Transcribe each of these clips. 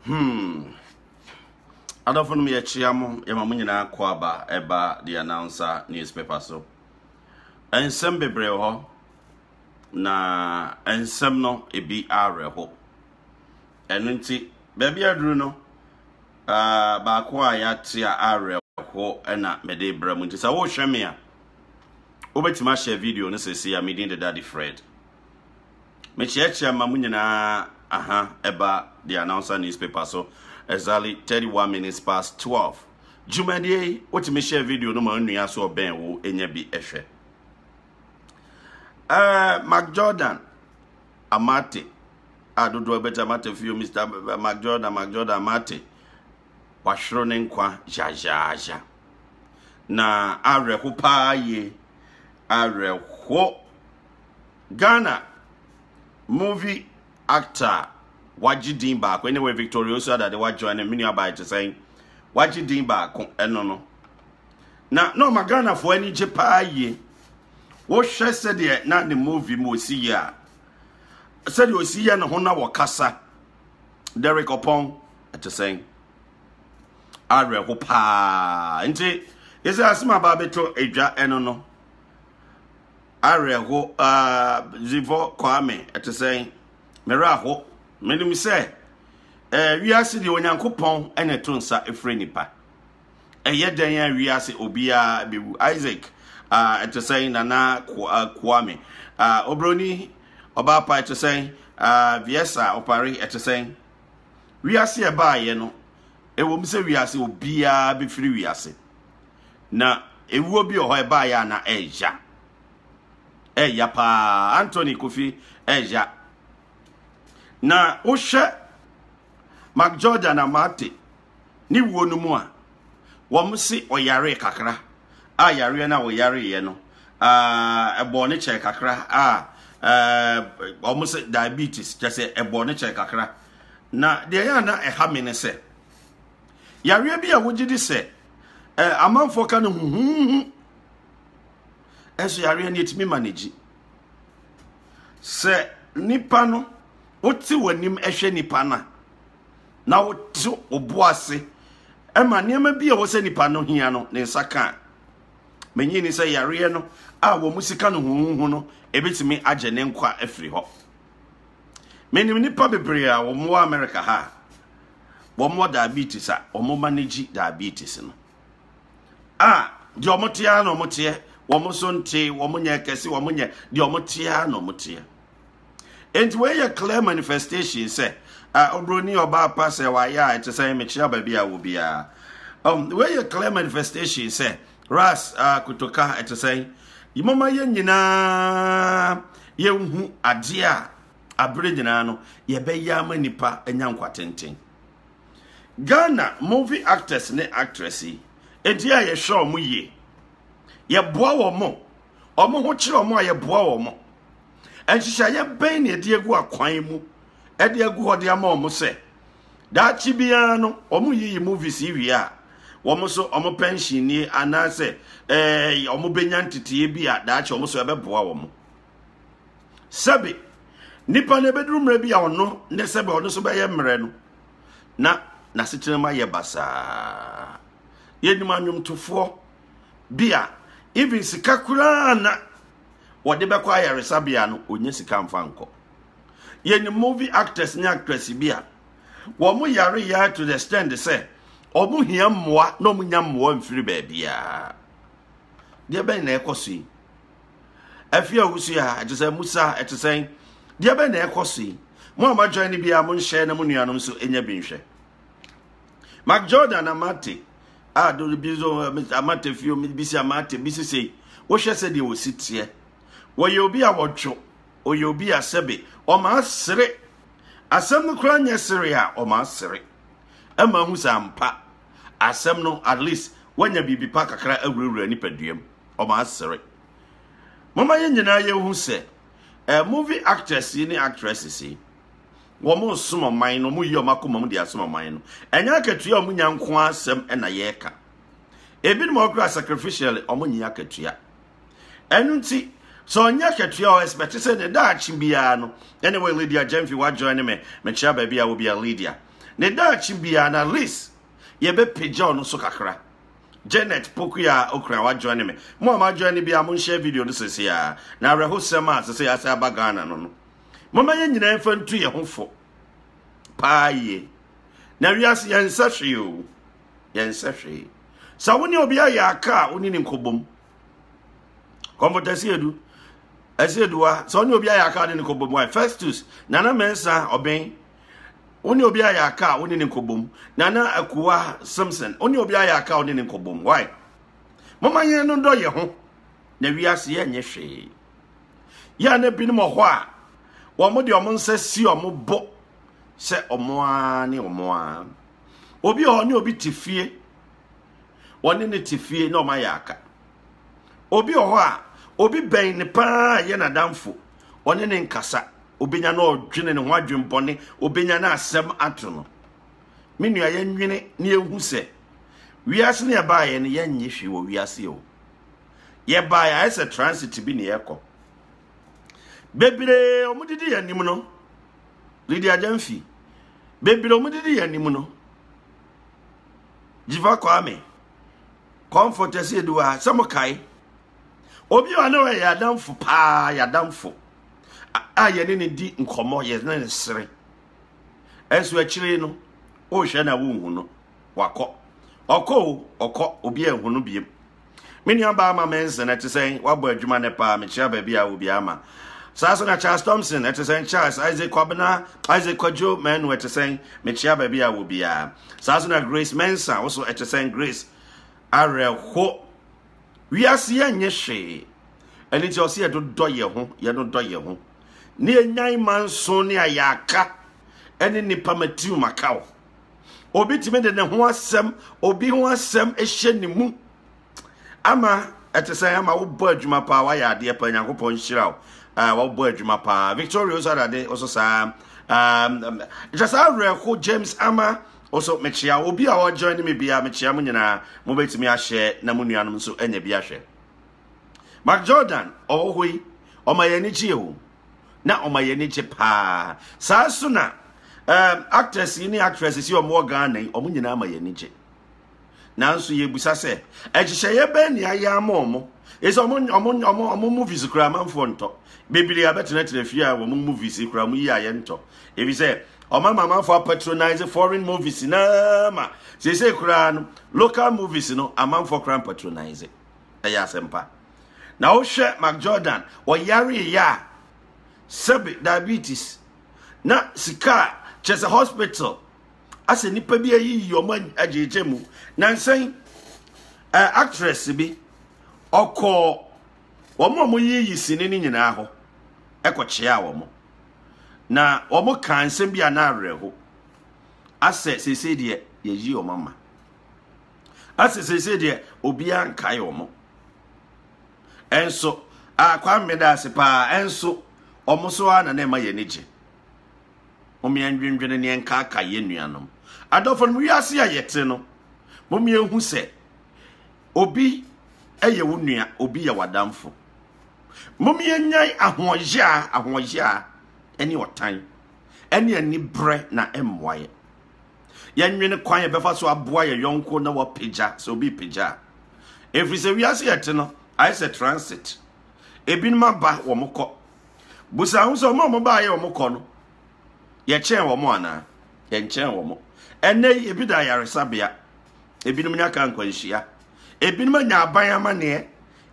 hmm adɔfo no yɛkyia mo yɛma mo nyinaa kɔ aba ɛba the announcer newspaper so nsɛm bebree hɔ na nsɛm no ebi awerɛho ɛno nti baabi aduru no uh, baako a yɛate a awerɛho ɛna mede brɛ mu nti sɛ wohwɛ me a wobɛtumi ahyɛ video no sɛsi a medin deda de fred Mekyerɛkyerɛ ma mo nyinaa aha ɛba The Announcer Newspaper so exactly 31 minutes past 12. Dwumadie yi, wotumi hyɛ video no ma onua so ɔbɛn wo nya bi ɛhwɛ. Uh, Mark Jordan, Amate, adodoɔ ah, bɛtɛ Amate fio Mr. Mark Jordan, Mark Jordan Amate, wahwere ne nkwa zhazhazha. Na awerɛho paa yie, awerɛho Ghana movie actor a wagye din baako ne wɔ Victoria Osuadade wa join no me nua baa te sɛn wagye din baako ɛno no na na ɔma Ghanafoɔ ani gye paa yie wohwɛ sɛdeɛ na ne movie mu ɔsi yɛ a sɛdeɛ ɔsi yɛ ne ho na wɔkasa Derek Ɔpɔn ɛte sɛn awerɛho paa nti ɛsɛ asɛm aba bɛtɔ adwa ɛno no Awerɛho aa Zivɔ Kwame ɛte sɛn? Me werɛ aho. Menim sɛ ɛɛ wiase deɛ Onyankopɔn ɛna ɛto nsa ɛfrɛ nipa. Ɛyɛ dɛn a wiase obiara bɛwu. Isaac aa ɛte sɛn Nana Kwame aa Obroni ɔbaa pa ɛte sɛn aa Viesa Opare ɛte sɛn? Wiase ɛbaayɛ no ɛwom sɛ wiase obiara bɛfiri wiase. Na ewuo bi wɔ hɔ ɛbaeɛ a na ɛɛya. Ɛɛya paa. Anthony Kofi ɛɛya. Na wohwɛ Mark Jordan Amate ne wuo no mu a, wɔn se ɔyaree kakra a yareɛ no a ɔyareeɛ no ɛbɔɔ ne kyɛɛ kakra a wɔn se diabetes kyɛ sɛ ɛbɔɔ ne kyɛɛ kakra. Na deɛ ɛyɛ a na ɛha me ne sɛ, Yareɛ bi a wogye di sɛ eh, amanfoɔ ka no huhuhu ɛso yareɛ no ɛtumi ma no gyi sɛ nipa no wote w'anim ɛhwɛ nipa no a na wote obo ase ɛma nneɛma bi a wɔ sɛ nipa no hia no ne nsa ka a menyi ni sɛ yareɛ no a wɔn sika no huhuhu no ɛbɛtumi agyɛ ne nkwa afiri hɔ menim nipa bebree a wɔn wɔ amerika ha wɔwɔ diabetes a wɔn manage diabetes no a deɛ wɔn te ara na wɔn teɛ wɔn nso nte wɔn nyɛ kɛse wɔn nyɛ deɛ wɔn te ara na wɔn teɛ nti wɔyɛ clear manifestation sɛ a obroni ɔbaa pa sɛ wayɛ a ɛte sɛ mekyia baabi a wɔ biara um, wɔyɛ clear manifestation sɛ ras uh, kotoka ɛte sɛ yɛmɔma yɛ nyinaa yɛnhu adeɛ a abere nyinaa no yɛbɛyɛ ama nipa anya nkwatenten ghana movie actors ne actress yi enti a yɛhwɛ wɔn yie yɛboa wɔn wɔn ho kyerɛ wɔn a yɛboa wɔn nhyehyɛeɛ bɛn na yɛde agu akwan mu ɛde agu hɔ de ama wɔn sɛ daakye biara no wɔn yiyi movies yi wie a wɔn so wɔn pension nie anaasɛ ɛɛ wɔn bɛnya nteteeɛ bi a daakye wɔn so ɛbɛboa wɔn. sɛbe nipa no ebeduru mmerɛ bi a ɔno ne sɛbe ɔno nso bɛyɛ mmerɛ no na n'asetena mu ayɛ basaa yɛnim anwomtofoɔ bi a even sika koraa na wɔde bɛkɔ ayaresabea no ɔnyɛ sika mfa nkɔ yɛnim movie actors ne actress bi a wɔn yare yare to the stand sɛ wɔn hia mmoa na wɔn nya mmoa mfiri baabiara deɛ bɛn na ɛkɔ so yi Afei a wosua ha, ɛte sɛ musa, ɛte sɛn? Deɛ bɛn na ɛkɔ so yi? Mo a moadwan no biara monhyɛ na mo nuanom nso ɛnya bi nhwɛ. Mark Jordan Amate a dole bi nso eh, Amate fio bi si Amate bi si sei. Wohwɛ sɛ deɛ wɔsi teɛ. Wɔyɛ obi a wɔdwo. Ɔyɛ obi a sɛbe ɔma asere. Asɛm no koraa nyɛ sere a ɔma asere. Ɛma ahu sɛ ampa asɛm no at least wanya biribi pa kakra awurawura nipaduam. wɔasere. Momma yɛn nyinaa yɛhu sɛ eh, movie actors yi ne actresses yi, wɔsom ɔman no, wɔyi wɔn akoma mu de asom ɔman no. Ɛnyɛ akatua a wɔnya nko asɛm na yɛreka. Ebinom a wɔkura sacrificially, wɔnyi akatua. Ɛno nti, sɛ ɔnyɛ akatua ɔ expect sɛ ne daakye biara no, anyway, Lydia Gyamfi, wajoin ne me, mekyia baabi a wobia Lydia. Ne daakye biara no, at least, yɛbɛpagya ɔno so kakra. Janet Pokuya Okran wa join me. Mo a ma join ne bia mo share video no sese a. Na awerɛho sɛm a sese ase aba Ghana no no. Mama yɛn nyinaa mfa ntu yɛn ho fo. Paa yie. Na wiase yɛn nsa hwee o. Yɛn nsa hwee. Sa wo ne obi ayɛ aka a wo ne ne nkɔbom. Kɔmfɔta si edu. Ɛsi eduwa. Sa wo ne obi ayɛ aka a ne ne nkɔbom. Why? Festus, Nana Mensa, Ɔbɛn. wo ne obi ayɛ aka a wo ne ne nkɔbom nana akuwa simpson wo ne obi ayɛ aka a wo ne ne nkɔbom why mama yɛn no dɔ yɛ ho na wiase yɛ nyɛ hwee yɛ a na binom wɔ hɔ a wɔn de wɔn nsa si wɔn bo sɛ wɔn ara ne wɔn ara obi wɔ hɔ ne obi te fie wɔne ne te fie na wɔn ayɛ aka obi wɔ hɔ a obi bɛn ne paa yɛ n'adamfo wɔne ne nkasa obenya na ɔdwene ne ho adwenbɔne obenya na asɛm ato no me nua yɛnwene na yɛhu sɛ wiase ne yɛbaeɛ no yɛnnye hwee wɔ wiase o yɛbaeɛ ayɛ sɛ transit bi ne yɛkɔ bebree ɔmodidi yɛ anim no lidi agyamfi bebree ɔmodidi yɛ anim no gyiva kwame comfort ɛsɛ yɛdi wɔ ha sɛ mokae Obi a ɔne ɔyɛ adamfo paa, yɛ adamfo a yɛne ne di nkɔmmɔ, yɛne ne sere. Ɛnso akyire no, wohwɛ na wonhu no, wakɔ. Ɔkɔ o, ɔkɔ, obi anhu no biem. Me nua baa ma Menson, ɛte sɛn, wabɔ adwuma ne paa, mekyia baabi a obi ama. Saa so na Charles Thompson, ɛte sɛn, Charles, Isaac Kwabena, Isaac Kwadwo, Manu, ɛte sɛn, mekyia baabi a obiara. Saa so na Grace Mensa, wo so ɛte sɛn, Grace, awerɛho. wiase yɛ nyɛ hwee ɛne nti ɔsɛ yɛdodɔ yɛ ho yɛdodɔ yɛ ho ne yɛnyan ma nso ne ayɛ aka ɛne nnipa matiriw maka wo obi tumi de ne ho asɛm obi ho asɛm hyɛ ne mu ama ɛte sɛ ama wobɔ adwuma paa wayɛ adeɛ paa nyankopɔn nhyira wo ah, wabɔ adwuma paa victoria osadade ɔso saa um, um, kyɛ saa awerɛho james ama Nso mekyea obi a ɔ join me biaa, mekyea mo nyinaa, mo bɛtumi ahyɛ na mo nuanom nso anya bi ahwɛ. Mark Jordan, ɔwɔ hɔ yi, ɔma yɛn ani gyeɛ o, na ɔma yɛn ani gye paa. Saa nso na um, actors yi ne actresses yi ɔmo wɔ Ghana yi, ɔmo nyinaa ma yɛn ani gye. nanso yɛbisa sɛ nhyehyɛeɛ bɛn ne ayɛ ama wɔn ɛsɛ wɔn wɔn wɔn wɔn movies kura amanfoɔ ntɔ bebree abɛtenatena fie a wɔn movies kura wɔn yi a yɛntɔ ebi sɛ wɔn ama amanfoɔ apatronise foreign movies naa ma seesei koraa no local movies no amanfoɔ koraa mpatronise ɛyɛ asɛmpa na wohwɛ mac jordan ɔyareeɛ a sɛbe diabetes na sika kyɛ sɛ hospital asɛ nnipa bi ayiyi wɔn agyegye mu nansa yi ɛɛ actress bi ɔkɔɔ wɔn a wɔyiyi sini no nyinaa hɔ ɛkɔkyea wɔn na wɔn kaa nsɛm bi a na awerɛho asɛ sese deɛ yɛyi wɔn ama asɛ sese deɛ obiara nkae wɔn ɛnso akwa mmeda ase paa ɛnso wɔn so ara na na ɛma yɛn ani gye. Mom yɛndwendwene ne yɛnkaakae yɛn nuanom. Adɔfonom, wiase a yɛte no, mom yɛhu sɛ obi yɛ wo nua, obi yɛ w'adamfo. Mom yɛnyae ahoɔyaa, ahoɔyaa ɛne ɔtan, ɛne anibrɛ na ɛmmoa yɛ. Yɛnwene kwan yɛbɛfa so aboa yɛ yɔnko na wapagya sɛ obi pagya a. Ɛfiri sɛ wiase yɛte no, ayɛ sɛ transit. ebinom aba wɔn kɔ busa ho sɛ wɔn a wɔbaa yɛ wɔn kɔ no yɛkyɛn wɔn anaa yɛnkyɛn wɔn ɛnɛ yi ebi da ayaresabea ebinom nya ka nkwanhyia ebinom anya aban amaneɛ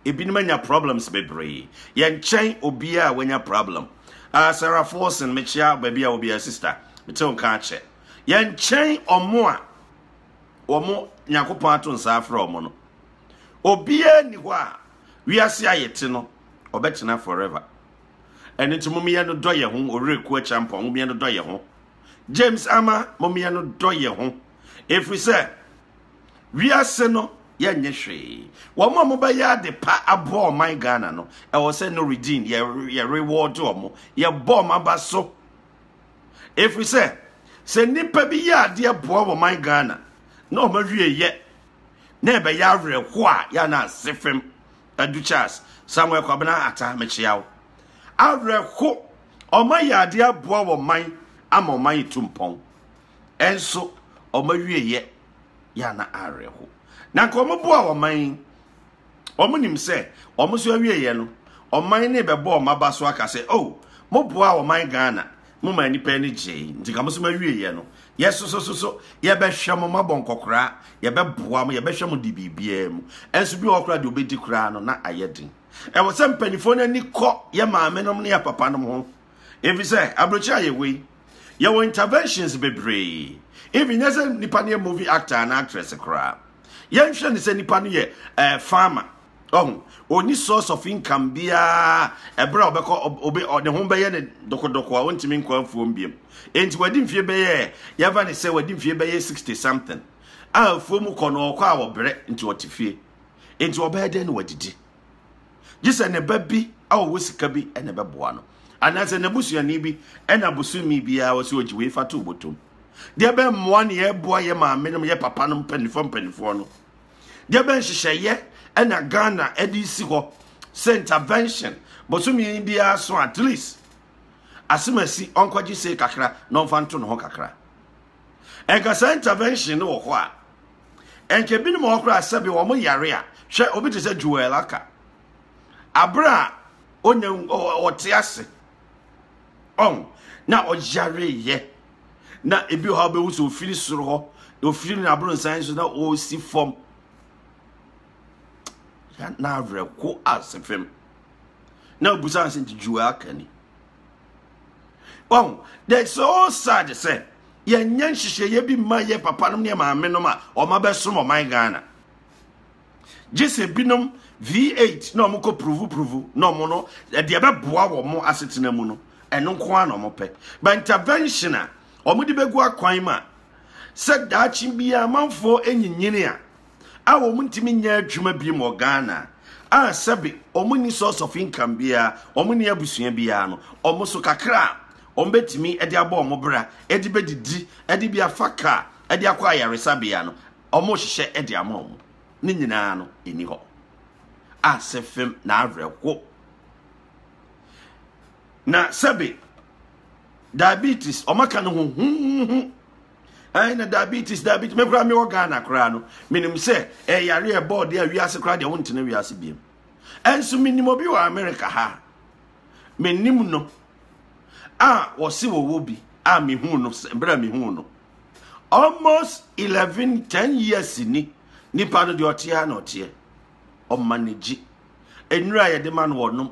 ebinom anya problems bebree yɛnkyɛn obiara a wanya problem uh, sarah forson mekyia baabi a obiara sister mete wo nka akyɛ yɛnkyɛn wɔn a wɔn nyakopɔn ato nsa afrɛ wɔn no obiara ni hɔ a Wiase a yɛte no, ɔbɛtena forever. Ɛno nti mommeyɛ no dɔ yɛn ho, ɔwerɛ kuo kyampɔn, mommeyɛ no dɔ yɛn ho. James Ama, mommeyɛ no dɔ yɛn ho. Ɛfiri sɛ, wiase no yɛnyɛ hwee. Wɔn a wɔbɛyɛ ade pa abɔ ɔman Ghana no, ɛwɔ sɛ no redeem, yɛ reward wɔn, yɛbɔ wɔn aba so. Ɛfiri sɛ, sɛ nnipa bi yɛ adeɛ boa wɔn man Ghana, na wɔn awie yɛ. na ɛbɛyɛ awerɛhoɔ a yɛ na ase fam adu Charles Samuel Kwabena Atta mekyea wo awerɛho ɔma yɛ adeɛ aboa wɔ man ama ɔman yɛ tu mpɔn ɛnso ɔma wie yɛ yɛ na awerɛho na nka ɔmo boa wɔ man Wɔnim sɛ wɔn nso awieeɛ no, ɔman no rebɛbɔ wɔn aba so aka sɛ, oh, moboaa ɔman Ghana, moma nnipa ani gyee, nti ka mo nso mawieeɛ no, yɛsosososo, yɛbɛhwɛ mo, moabɔ nkɔkoraa, yɛbɛboa mo, yɛbɛhwɛ mo de biribiara mu. Ɛnso bi wɔ hɔ koraa deɛ ɔbɛdi koraa no na ayɛ den. Ɛwɔ sɛ mpanimfoɔ no ani kɔ yɛ maamenom ne yɛ papanom ho. efisɛ aburokyiri ayɛ hɔ yi yɛwɔ interventions bebree even nyɛ sɛ nipa no yɛ movie actor anaa actress koraa yɛnhwɛ ne sɛ nipa no yɛ ɛɛ eh, farmer ɔho ɔni source of income biara ɛberɛ a ɔbɛkɔ ɔbɛ ɔde ho bɛyɛ ne dokodoko a ɔntumi nkɔ afuom biam enti wadi mfie bɛyɛ yɛfa ne sɛ wadi mfie bɛyɛ sixty something a afuom kɔ no ɔkɔ a ɔbrɛ nti ɔte fie enti ɔbɛyɛ dɛn na wadidi gye sɛ ne ba bi a ɔwɔ sika bi na ɛbɛboa no anaasɛ n'abusuani bi na bosome biara wɔ sɛ ɔgye wei fa to botom deɛ bɛmmoa ne yɛboa yɛ maame nom yɛ papa nom mpanimfoɔ mpanimfoɔ no deɛ bɛnhyehyɛeɛ ɛna ghana ɛde si hɔ sɛ intervention bosome biara so at least asemasi ɔnkɔgye sei kakra na ɔmfa nto ne ho kakra Nka saa intervention no wɔ hɔ a, nka ebinom wɔ hɔ koraa sɛbi wɔn yare a, hwɛ obi te sɛ Joel aka. Abere a onya ɔte ase ɔn na ɔyare yɛ na ebi wɔ hɔ a bɛhu sɛ ofiri soro hɔ na ofiri ne abronsan so na ɔresi fam. Na awerɛko ase fam. Na obusa sɛ nti Joel aka ni. wɔn the so sad sɛ yɛnyɛ nhyehyɛeɛ bi mma yɛ papa nom ne maame nom a wɔn abɛsom ɔman ghana gye sɛ binom v8 na wɔn kɔ puruvupuruvu na wɔn no ɛdeɛ ɛbɛboa wɔn asetena mu no ɛno nko ara na wɔn pɛ but intervention a wɔn de bɛgu akwan mu a sɛ daakye biara amanfoɔ nyinyini a a wɔntumi nyɛ adwuma bi wɔ Ghana a sɛbe wɔnni source of income biara, wɔnni abusua biara no, wɔn so kakra a wɔbɛtumi de abɔ wɔn bra, de bɛdidi, de bi afa kaa, de akɔ ayaresabea no, wɔhyehyɛ de ama wɔn. Ne nyinaa no ɛni hɔ. Ase fam na awerɛho. Na sɛbe diabetes, wɔaka no ho huhuhu ɛn na diabetes diabetes me koraa mewɔ ghana koraa no menim sɛ ɛyare eh, ɛbɔɔ deɛ wiase koraa deɛ wontena wiase biam ɛnso menim obi wɔ amerika ha menim no a wɔse wɔwɔ bi a mehu no berɛ a mehu no almost 11 10 years ni nipa no deɛ ɔteɛ na ɔteɛ ɔma ne gye nnura yɛde ma no wɔnom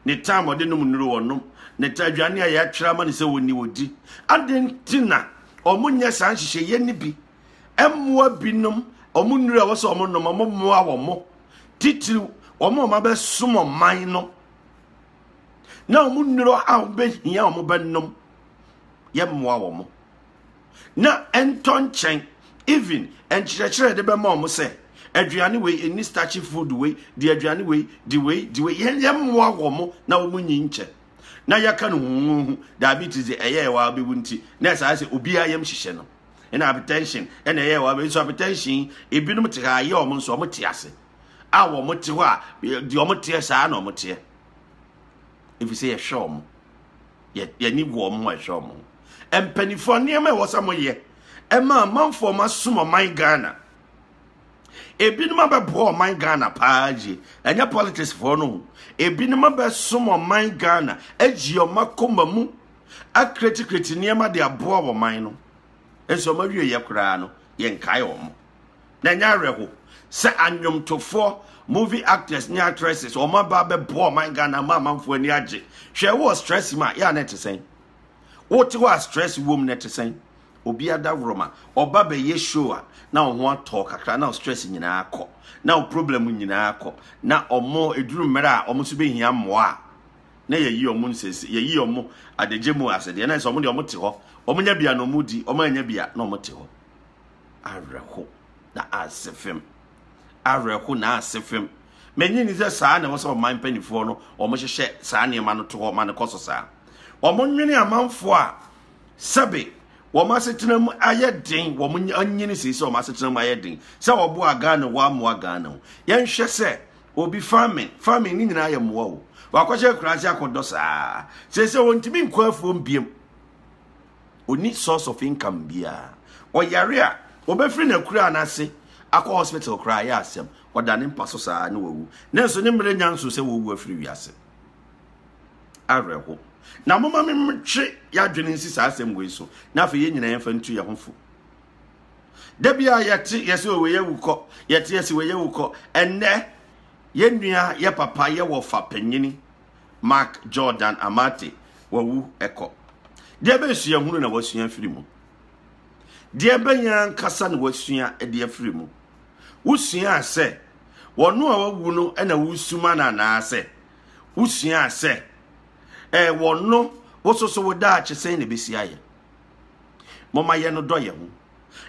Ne taa ma ɔde nom nnuru ɔnom. Ne taa aduane a yɛatwerɛ ama no sɛ ɔnni ɔdi. Adɛn nti na wɔnyɛ saa nhyehyɛeɛ no bi? Mmoa binom, wɔn nnuru a ɛwɔ sɛ wɔnom, wɔmmoa wɔn mo. Titiriw, wɔn a wɔabɛsom ɔman no na wɔn nnuru a wɔbɛhia wɔbɛnom, yɛmmoa wɔn mo. na ɛntɔ nkyɛn even nkyerɛkyerɛ yɛde bɛma wɔn sɛ aduane wei ɛni starchy food wei di aduane wei di wei di wei yɛn yɛn mmoa wɔn na wɔn nyi nkyɛn na yɛka no huhuhu diabetes de ɛyɛ ɛwɔ abɛwu nti na ɛsɛ ayɛ sɛ obiara yɛm hyehyɛ no ɛna hyɛn ɛna ɛyɛ ɛwɔ abɛwu nso hyɛn ebinom te ha ayɛ wɔn nso wɔn te ase a wɔn te hɔ a deɛ wɔn teɛ saa na wɔn teɛ efisɛ yɛhwɛ wɔn. yɛni wɔ wɔn a ɛhwɛ wɔn ho mpanimfoɔ nneɛma a ɛwɔ sɛ wɔyɛ ɛma amanfoɔ ma som ɔman ghana ebinom abɛboa ɔman ghana paa yie ɛnyɛ politics foɔ no ebinom abɛsom ɔman ghana agyi wɔn akoma mu akiretikireti nneɛma de aboa wɔn man no nso wɔn awie yɛ koraa no yɛnkae wɔn. na ɛnyɛ awerɛho sɛ anwomtofoɔ movie actors ne actresses wɔn aba abɛboa ɔman ghana ma amanfoɔ ani agye hwɛ wɔ stress mu a yɛ a na ɛte sɛn wote hɔ a stress wom na ɛte sɛn obi adaworoma ɔba bɛyɛ show a na ɔho atɔ kakra na stress nyinaa kɔ na problem nyinaa kɔ na ɔmo eduru mmerɛ a ɔmo nso bɛhia mmoa a na yɛyi ɔmo nsɛsi yɛyi ɔmo adagye mu asɛdeɛ na ɛsɛ ɔmo deɛ ɔmo te hɔ ɔmo nya bia na ɔmo di ɔmo anya bia na ɔmo te hɔ awerɛho na ase fam awerɛho na ase fam mɛnyi ni sɛ saa na ɛwɔ sɛ ɔman mpanimfoɔ no wɔhyehyɛ saa nneɛma no to hɔ ma no kɔ so saa wɔnwene amanfoɔ a sɛbe wɔn asetena mu ayɛ den wɔn anyini sɛ sɛ wɔn asetena mu ayɛ den sɛ wɔboa ghana wɔamoa ghana o yɛnhwɛ sɛ obi farming farming ne nyinaa yɛ mmoa o wakɔhyɛ akuraase akɔdɔ saa sɛ sɛ wɔntumi nkɔ afuom biem ɔnni source of income biara. Ɔyare a, wɔbɛfiri n'akuraa no ase akɔ hospital koraa ɛyɛ asɛm. Ɔda ne mpa so saa na wawu. Nanso ne mmerɛ nya nso sɛ wɔwu afiri wiase. Awerɛho. Na moma me metwe yɛadwene nsi saa asɛm wei so na afei yɛn nyinaa yɛmfa ntu yɛn ho fo. Da bi a yɛte yɛsɛ ɔwɔ yɛ wukɔ, yɛte yɛsɛ wɔ yɛ wukɔ. Ɛnnɛ, yɛn nua, yɛ papa, yɛ wɔfa panyini, Mark Jordan Amate wawu kɔ. Deɛ bɛn suahunu na wasua afiri mu? Deɛ bɛn ankasa na wasua de afiri mu? Wosuaa sɛ wɔn a wawu no na wosuma no anaasɛ wosuaa sɛ ɛɛ wɔn no wososo wo daakye sɛn na ɛbɛsi ayɛ? Moma yɛ no dɔ yɛ ho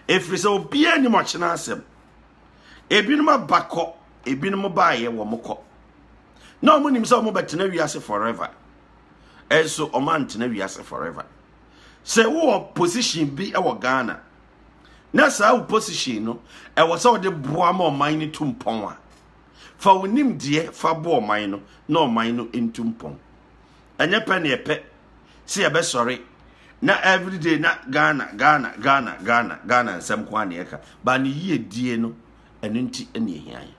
ɛfiri sɛ obiara nim ɔkyena asɛm. Ebinom abakɔ, ebinom baayɛ wɔn kɔ. na wɔn nim sɛ wɔn bɛtena wiase forever ɛnso wɔn antena wiase forever sɛ wowɔ position bi wɔ ghana na saa wo position no ɛwɔ sɛ wɔde boa ma ɔman no tu mpɔn a fa wo nimdeɛ fa boa ɔman no na ɔman no ntu mpɔn ɛnyɛ pɛ ne ɛpɛ sɛ yɛbɛsɔre na everyday na ghana ghana ghana ghana ghana nsɛm ko a ne ɛka ba ne yie die no ɛno nti ɛne ɛhia yɛ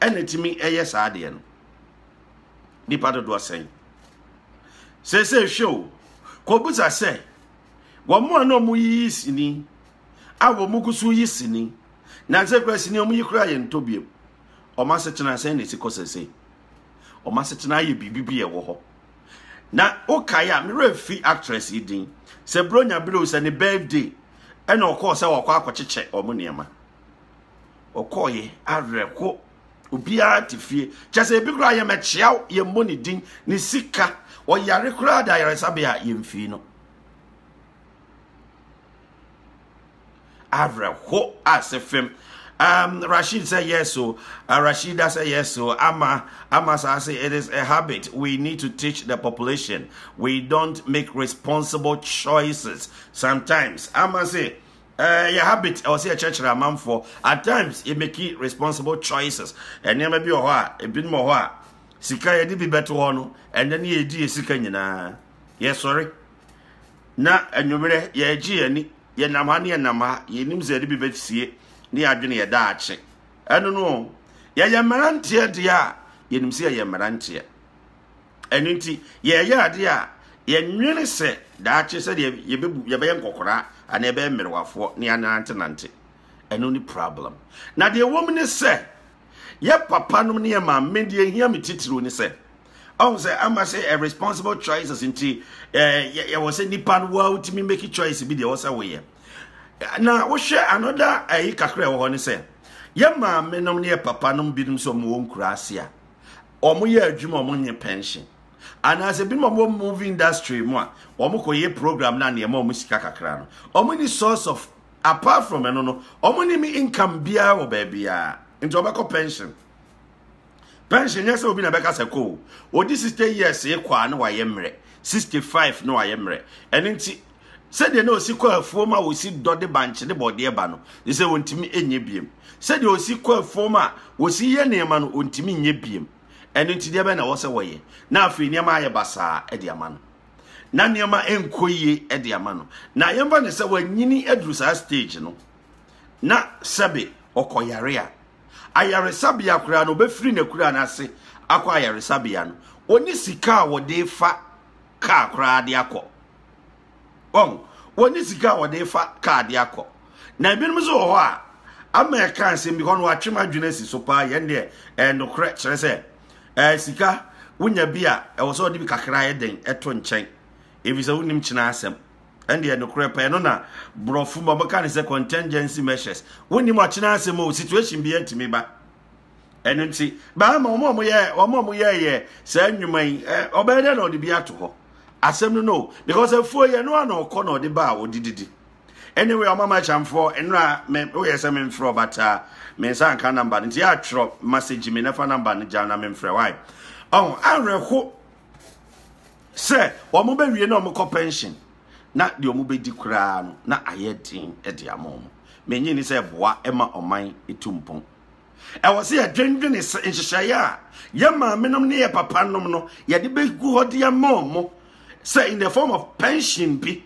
ɛna ɛtumi ɛyɛ saa adeɛ no nipa dodoɔ sɛn sese hwɛ o kɔbusa sɛ wɔn a na wɔn yiyi sini a wɔn gu so yi sini nansa kura sini wɔn yi kura yɛ ntɔ biem wɔn asetena sɛn na esi kɔ sese wɔn asetena ayɛ biribi bi ɛwɔ hɔ na okae a mmerɛ fi actress yi din sɛ bronya bere o sɛ ne birthday ɛna ɔkɔɔ sɛ ɔkɔ akɔkyekyɛ wɔn nneɛma. ɔkɔɔeɛ awerɛho obiara te fie kyɛ sɛ ebi koraa yɛmɛkyea wo yɛmmɔ ne din ne sika ɔyare koraa da ayaresabea a yɛmfii no awerɛho ase fam um, Rashid said yes, so uh, Rashida said yes, so Ama Ama says it is a habit. We need to teach the population. We don't make responsible choices sometimes. Ama say Eh, yɛ habit ɛwɔ sɛ yɛkyerɛkyerɛ amanfoɔ at times yɛ make responsible choices nneɛma bi wɔ hɔ a ebinom wɔ hɔ a sika yɛde bi bɛto hɔ no ɛnɛ ne yɛdi yɛ sika nyinaa yɛsɔre na anwummerɛ yɛregye yɛn ani yɛnam ha ne yɛnam ha yɛnim sɛ yɛde bi bɛsie ne yɛadwene yɛ daakye ɛno no yɛyɛ mmeranteɛ deɛ a yɛnim sɛ yɛyɛ mmeranteɛ Ɛno nti, yɛreyɛ ade a, yɛnnwene sɛ daakye sɛdeɛ yɛbɛbu yɛbɛyɛ nkɔkoraa anaa yɛbɛyɛ mmerewafoɔ ne anantenante. Ɛno ne problem. Na deɛ ɛwɔ mu ne sɛ, yɛ papa nom ne yɛ maame deɛ ɛhia me titiriw ne sɛ, ɔhu sɛ ama sɛ a responsible choices nti yɛwɔ sɛ nipa no wa wotumi make choice bi deɛ ɛwɔ sɛ woyɛ na wohwɛ anoda ayi kakra ɛwɔ hɔ ne sɛ yɛ maame nom ne yɛ papa nom binom sɛ ɔmo wɔ nkura ase a wɔyɛ adwuma a wɔnyɛ pension anaasɛ binom a wɔwɔ movie industry mu a wɔkɔyɛ program na nneɛma wɔn sika kakra no wɔn ni source of apart from ɛno no wɔn ni mi income biara wɔ baabiara nti wɔbɛkɔ pension pension nyɛ sɛ obi na bɛka sɛ kɔ o wɔdi sixty years kɔ a na wɔayɛ mmerɛ sixty five na wɔayɛ mmerɛ ɛno nti sɛdeɛ na ɔsi kɔ afuom a ɔsi dɔ de bankye ne bɔdeɛ ba no ne sɛ ɔntumi nyɛ biem sɛdeɛ ɔsi kɔ afuom a ɔsi yɛ nneɛma no ɔntumi nyɛ biem ɛno nti deɛ bɛn na ɛwɔ sɛ wɔyɛ na afei nneɛma ayɛ basaa de ama no na nneɛma nkɔ yie de ama no na yɛmfa ne sɛ wanyini aduru saa stage no na sɛbe ɔkɔyare a ayaresabea koraa no ɔbɛfiri n'akura no ase akɔ ayaresabea no ɔne sika a wɔde fa kaa koraa de akɔ wɔn wɔne sika a wɔde fa kaa de akɔ na ebinom nso wɔ hɔ a ama ɛka nsɛm bi hɔ no watwe m'adwene asi so paa yɛn deɛ ɛyɛ nokorɛ kyerɛ sɛ ɛɛ sika wonya bi a ɛwɔ sɛ ɔde bi kakra yɛ den ɛto nkyɛn ebi sɛ wonim kyena asɛm ɛndeɛ nokorɛ pɛɛ no na borɔfo ma wɔka ne sɛ contingency measures wonim ɔkyena asɛm o situation bi atumi ba ɛno nti bɛrima wɔn a wɔyɛ wɔn a wɔyɛɛyɛ saa nnwuma yi ɛ ɔbɛyɛ dɛ na ɔde bi ato hɔ asɛm no no because afuo yɛ no a na ɔkɔ na ɔde ba a ɔde didi anyway ɔma ma kyamfoɔ nnura me woyɛ sɛ memfrɛ ɔbataa me nsa nka namba no nti yɛ atwerɛ message me na fa namba no gya na memfrɛ wae ɔho awerɛho sɛ wɔn bɛwie na wɔn kɔ pension na deɛ wɔn bɛdi koraa no na ayɛ den de ama wɔn. Mennye nni sɛ ɛboa ma ɔman tu mpɔn. Ɛwɔ sɛ yɛdwendwene sɛ nhyehyɛeɛ a yɛn maamenom ne yɛn papanom no yɛde bɛgu hɔ de ama wɔn sɛ in the form of pension bi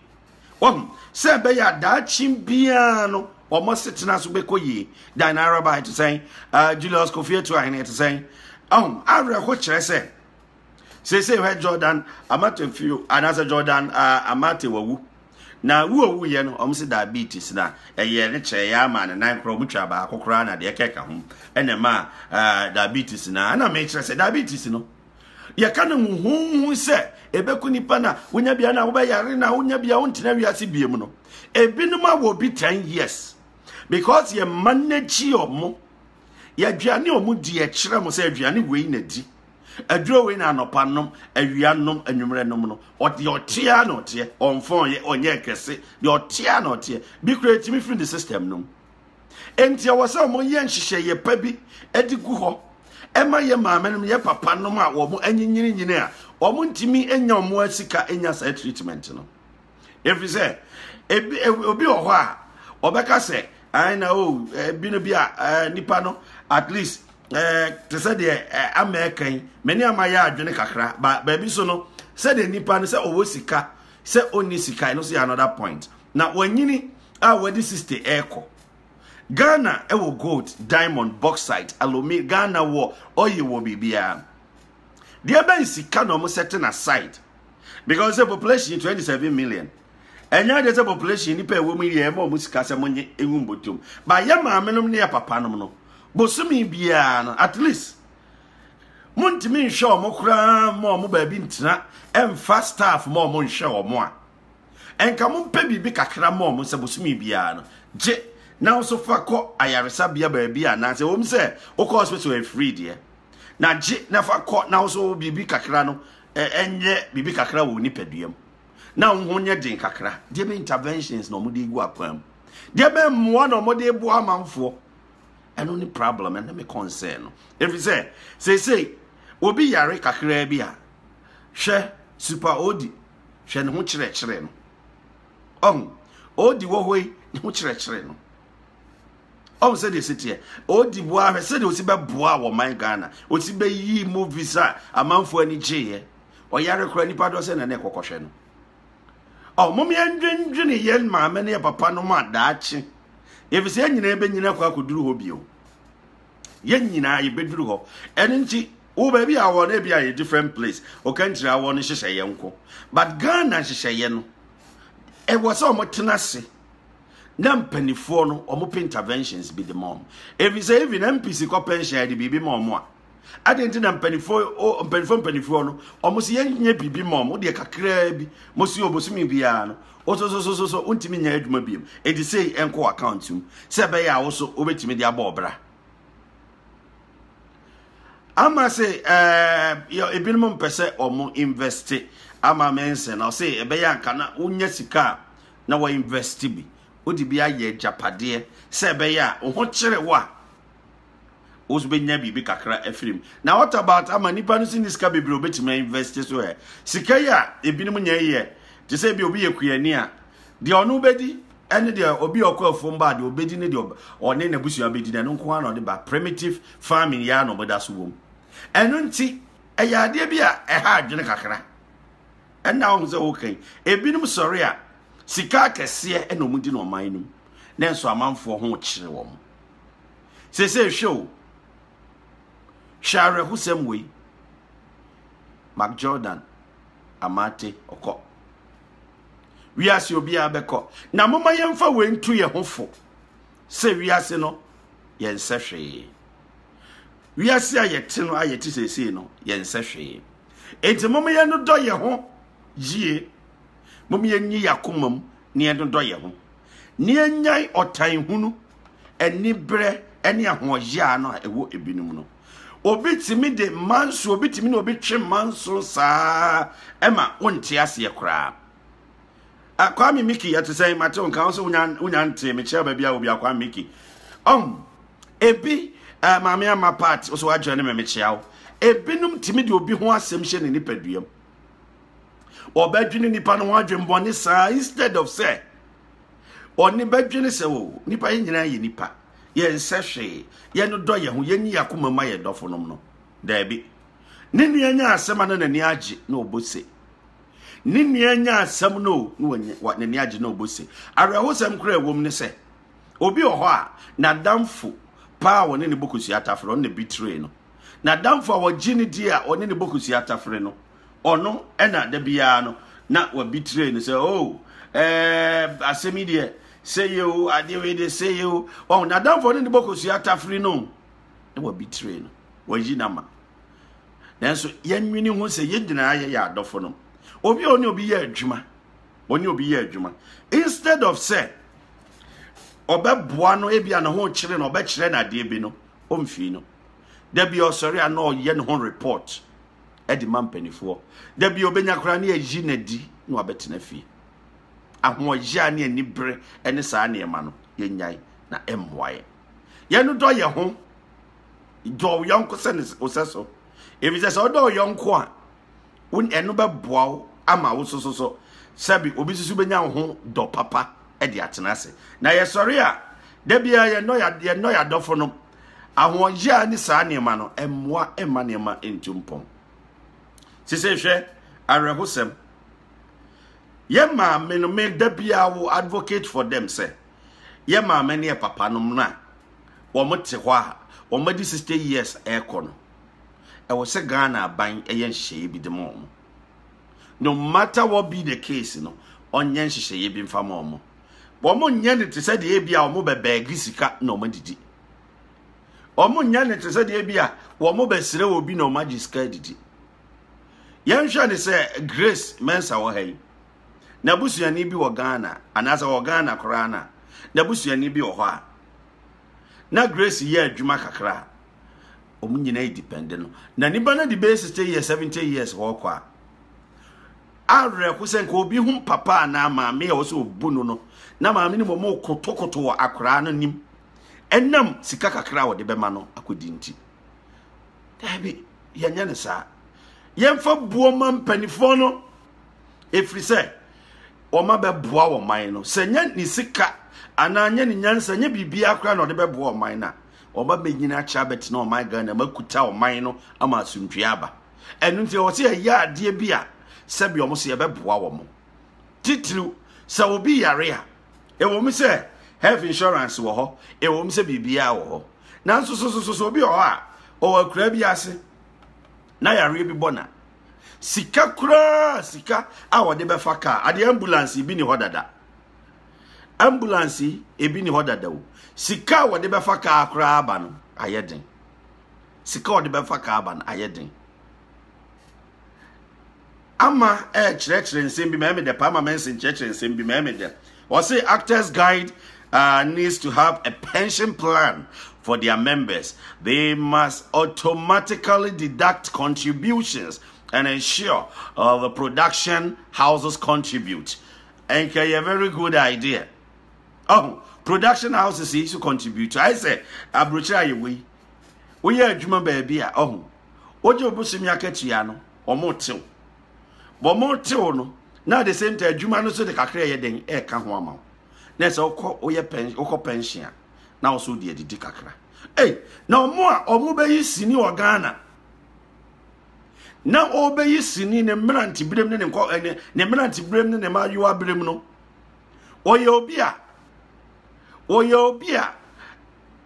wɔn sɛ ɛbɛyɛ adaakye biara no wɔn asetena so bɛkɔ yie dan araba ɛte sɛn Julius Kofi Atuahene ɛte sɛn awerɛho kyerɛ sɛ seesei hwɛ jordan amate fio anaasɛ jordan uh, amate wawu na wu owu yɛ no ɔmo se diabetes na ɛyɛ ne kyerɛ yɛ ama ne nan korɔ ɔmo twa baako koraa na deɛ kɛka ho ɛna ɛma uh, diabetes na ɛna mekyerɛ sɛ diabetes no yɛka no huhuhu sɛ ɛbɛku nipa na wonya bia na wobɛyare na wonya bia wontena wiase biam no ebinom awɔ bi 10 years because yɛma no akyi ɔmo yɛaduane ɔmo di ɛkyerɛ mo sɛ aduane wei na di Aduro wei na anɔpa nom, awia nom, anwummerɛ nom no. Ɔde ɔteɛ na ɔteɛ, ɔnfɔn yɛ, ɔnyɛ kɛse, deɛ ɔteɛ na ɔteɛ. Bi kura etimi firi ne system nom. Enti ɛwɔ sɛ wɔn yɛ nhyehyɛeɛ pa bi de gu hɔ ɛma yɛ maame nom, yɛ papa nom a wɔn anyinyininyini a wɔn ntumi nya wɔn asika nya saa treatment no. ɛfiri sɛ ebi obi wɔ hɔ a ɔbɛka sɛ ɛn na o ebi no bi a nipa no at least ɛɛ te sɛ deɛ ɛɛ ama ɛka yi mɛ ne ama yɛ adwene kakra ba baabi so no sɛdeɛ nipa no sɛ ɔwɔ sika sɛ ɔnni sika ɛno so yɛ another point na wɔnyini a wɔde sixty ɛɛkɔ ghana ɛwɔ gold diamond bauxite aluminium ghana wɔ ɔyɛ wɔ biribiara deɛ bɛn sika na wɔn sɛ te na site. because sɛ population twenty seven million ɛnyɛ adeɛ sɛ population nipa ɛwɔ mu yɛ ɛma ɔmo sika sɛ mo nye ehu mbɔtom ba yɛ maame nom ne yɛ papa nom no bosomi biara no at least mo ntumi nhwɛ ɔmo koraa ma ɔmo baabi ntena ɛnfa staff ma ɔmo nhwɛ ɔmo a ɛnka mo mpɛ biribi kakra ma ɔmo sɛ bosomi biara no gye na nso fa kɔ ayaresabea baabi a nansɛ wɔm sɛ wokɔ hospital afiri deɛ na gye na fa kɔ na nso biribi kakra no nyɛ biribi kakra wɔ nipadua mu na wɔn ho nyɛ den kakra deɛ bɛ interventions na wɔde gu akwan mu deɛ bɛ mmoa na wɔde boa amanfoɔ ɛno ne problem ɛno me concern no efi sɛ seesei obi yare kakraa bi a hwɛ super odi hwɛ ne ho kyerɛkyerɛ no ɔho odi wɔ hɔ yi ne ho kyerɛkyerɛ no ɔn sɛ deɛ ɛsi teɛ ɔdi boa ahwɛ sɛ deɛ ɔsi bɛboa wɔ man ghana ɔsi bɛyi movies a amanfoɔ ani gyeeɛ ɔyare kora nipa dɔ sɛ na na ɛkɔkɔhwɛ no ɔ mom yɛndwendwene yɛn maame ne yɛ papa no mu a daakye ɛfiri sɛ yɛn nyinaa bɛnyina kɔ akɔduru hɔ bio yɛn nyinaa yɛbɛduru hɔ ɛno nti wo baabi a wɔ no ebi a yɛ different place ɔkantiri awɔ no nhyehyɛeɛ nko but ghana nhyehyɛeɛ no ɛwɔ sɛ wɔtena ase na mpanimfoɔ no wɔpɛ interventions bi de ma wɔn efisɛ even npc kɔ pension yɛde biribi ma wɔn a adeɛ nti na mpanimfoɔ o mpanimfoɔ mpanimfoɔ no wɔn si yɛn nyɛ biribi ma wɔn deɛ kakraa bi mo si obosomi biara no wososososo wontumi nyɛ adwuma bi mu eti sɛ ɛnkɔ account mu sɛ ɛbɛyɛ a woso wobɛtumi de abɔ ɔbra ama se ɛɛ eh, ebinom mpɛ sɛ wɔn invest ama mensa na ɔsɛ ɛbɛyɛ anka na wonya sika a na wa invest bi wode bi ayɛ agyapadeɛ sɛ ɛbɛyɛ a wo ho kyere wo a wobɛnya biribi kakra afiri mu na what about ama nipa no si ne sika bebree obɛtumi invest so ɛ sika yi a ebinom nyɛ yɛ te sɛ bi obi yɛ kuani a deɛ ɔno bɛdi ɛne deɛ obi ɔkɔ afom ba deɛ obɛdi ne deɛ ɔne n'abusua bɛdi na ɛno nko ara na ɔde ba primitive farming yɛ a na ɔbɛda so wom ɛno nti ɛyɛ adeɛ bi a ɛha adwene kakra ɛnna wohu sɛ woka yi ebinom sɔre a sika akɛseɛ ɛna wɔn di na ɔman no mu na nso amanfoɔ ho kyerɛ wɔn sese hwɛ o hwɛ awerɛhosɛm wei mark jordan amate ɔkɔ wiase obiara bɛkɔ na moma yɛmfa wei nto yɛn ho fo sɛ wiase no yɛnsɛ hwee wiase a yɛte no a yɛte sesei no yɛnsɛ hwee Enti mom yɛ no dɔ yɛ ho yie. Mom yɛ nyi yakoma mu na yɛ no dɔ yɛ ho. Na yɛ nyan ɔtan hunu, anibrɛ ɛne ahoɔyaa no a ɛwɔ ebinom no. Obi tumi de manso, obi tumi ne obi twe manso saa ɛma wonte aseɛ koraa. Akwame Miki yɛte sɛn matew nka wo sɛ wonya ntee mekyerɛ baabi a obi Akwame Miki. Ɔm, ebi ɛɛ eh, maame ama part ɔsɛ wagyina ne mɛmɛ kyea wo ebinom tumi de obi ho asɛm hyɛ ne nipaduam ɔbɛdwene nipa no ho adwembɔne saa instead of sɛ ɔne bɛdwene sɛ o oh, nipa yɛ nyinaa yɛ nipa yɛn nsɛ hwee yɛn no dɔ yɛn ho yɛn nyi akoma ma yɛn dɔfo nom no daabi ne nua nya asɛm a na n'ani agye na ɔbɔ se ne nua nya asɛm no na n'ani agye na ɔbɔ se awerɛhosɛm kora ɛwom ne sɛ Obi wɔ hɔ a, n'adamfo paa a wɔne no bɔ kosua tafere, ɔno na bi tiree no. N'adamfo a wɔgye no di a wɔne no bɔ kosua tafere no, ɔno na da biara no na wabi tiree no sɛ, oh, ɛɛ, asɛm yi deɛ, sɛ yɛ o, adeɛ wei deɛ, sɛ yɛ o. Ɔho, n'adamfo ɔne no bɔ kosua tafere no, na wabi tiree no, wayi no ama. Nanso, yɛnwene ho sɛ yɛn nyinaa yɛyɛ adɔfo no. Obi a ɔne obi yɛ adwuma, ɔne obi yɛ adwuma instead of sɛ ɔbɛboa no ebi a ne ho kyerɛ no ɔbɛkyerɛ no adeɛ bi no ɔmfii no da bi ɔsɔre a na ɔyɛ ne ho report ɛde ma mpanimfoɔ da bi ɔbɛnya koraa ne ayi n'adi na wabɛtena fie ahoɔyɛ a ne anibere ne saa nneɛma no yɛnyae na ɛmmoa yɛ yɛn dɔ yɛ ho dɔ yɔnko sɛ ne osɛ so ebi sɛ sɛ ɔdɔ yɔnko a wo ɛno bɛboa wo ama wo soso so sɛbi obi soso bɛnya wo ho dɔ papa de atena ase na yɛsɔre a da biara yɛnɔ yɛnɔ yɛadɔfo no ahoɔyɛ a ne saa nneɛma no mmoa mma nneɛma ntu mpɔn sese hwɛ awerɛhosɛm yɛ maame no me da biara wo advocate for them sɛ yɛ maame ne yɛ papa no na wɔn te hɔ a wɔn adi 60 years ɛkɔ no ɛwɔ sɛ Ghana aban yɛ nhyehyɛeɛ bi de ma wɔn. No matter what be the case no, ɔnyɛ nhyehyɛeɛ bi mfa ma wɔn. Wɔn nyɛ ne te sɛ deɛ ebi a wɔn bɛ bɛɛgi sika na wɔn adidi. Wɔn nyɛ ne te sɛ deɛ ebi a wɔn bɛ srɛ wɔ bi na wɔn agye sika adidi. Yɛnhwɛ ne sɛ Grace Mensah wɔ ha yi. N'abusuani bi wɔ Ghana anaasɛ wɔ Ghana koraa na n'abusuani bi wɔ hɔ a na Grace yɛ adwuma kakra wɔn nyinaa depende no na nipa no de bɛyɛ sixty years seventy years wɔkɔ a awerɛko sɛ nka obi ho papa anaa maame a wɔsɛ obu no no na maame no wɔn kotokoto wɔ akoraa no nim ɛnam sika kakra a wɔde bɛma no akɔdi nti daabi yɛnyɛ no saa yɛmfa buo ma mpanimfoɔ no ɛfiri sɛ wɔma bɛboa wɔ man no sɛ nyɛ ne sika anaa nyɛ ne nyansa nyɛ biribiara koraa na ɔde bɛboa ɔman no a Wɔba bɛnyini akyɛ abɛtena ɔman Ghana mu akuta ɔman no ama asomdwoeɛ aba. Ɛno nti ɛwɔ sɛ yɛyɛ adeɛ bi a sɛbi wɔn so yɛbɛboa wɔn. Titiriw sɛ obi yare a, ɛwɔ mu sɛ health insurance wɔ hɔ, ɛwɔ mu sɛ biribiara wɔ hɔ. Nanso sosososo obi wɔ hɔ a ɔwɔ akuraa bi ase na yareɛ bi bɔ na sika koraa sika a wɔde bɛfa kaa adeɛ ambulance bi ni hɔ dada. ambulance yi ebi ne hɔ dada o sika a wɔde bɛfa kaa koraa aba no ayɛ den sika a wɔde bɛfa kaa aba no ayɛ den ama ɛrekyerɛkyerɛ nsɛm bi mɛmɛ dɛ paama mɛnsi nkyerɛkyerɛ nsɛm bi mɛmɛ dɛ wɔsi actors guide uh, needs to have a pension plan for their members they must automatically deduct contributions and ensure uh, the production houses contribute. Ɛnka ɛyɛ very good idea. Ɔho, production houses yi so contribute. Ayɛ sɛ aburokyerɛ a yɛwɔ yi, woyɛ adwuma baabi a, ɔho, wogye wo bosomi akatua no, wɔn tew. Wɔn tew no, na at the same time adwuma no so de kakra ɛyɛ den ɛka ho ama wo. Na ɛsɛ wokɔ woyɛ pɛn wokɔ pension a, na wo so de adidi kakra. Ei, na wɔn a wɔn bɛyi sini wɔ Ghana, na ɔrebɛyi sini ne mmeranteberem ne ne nkɔ ɛne ne mmeranteberem ne ne mmaayewa berem no ɔyɛ obi a ɔyɛ obi a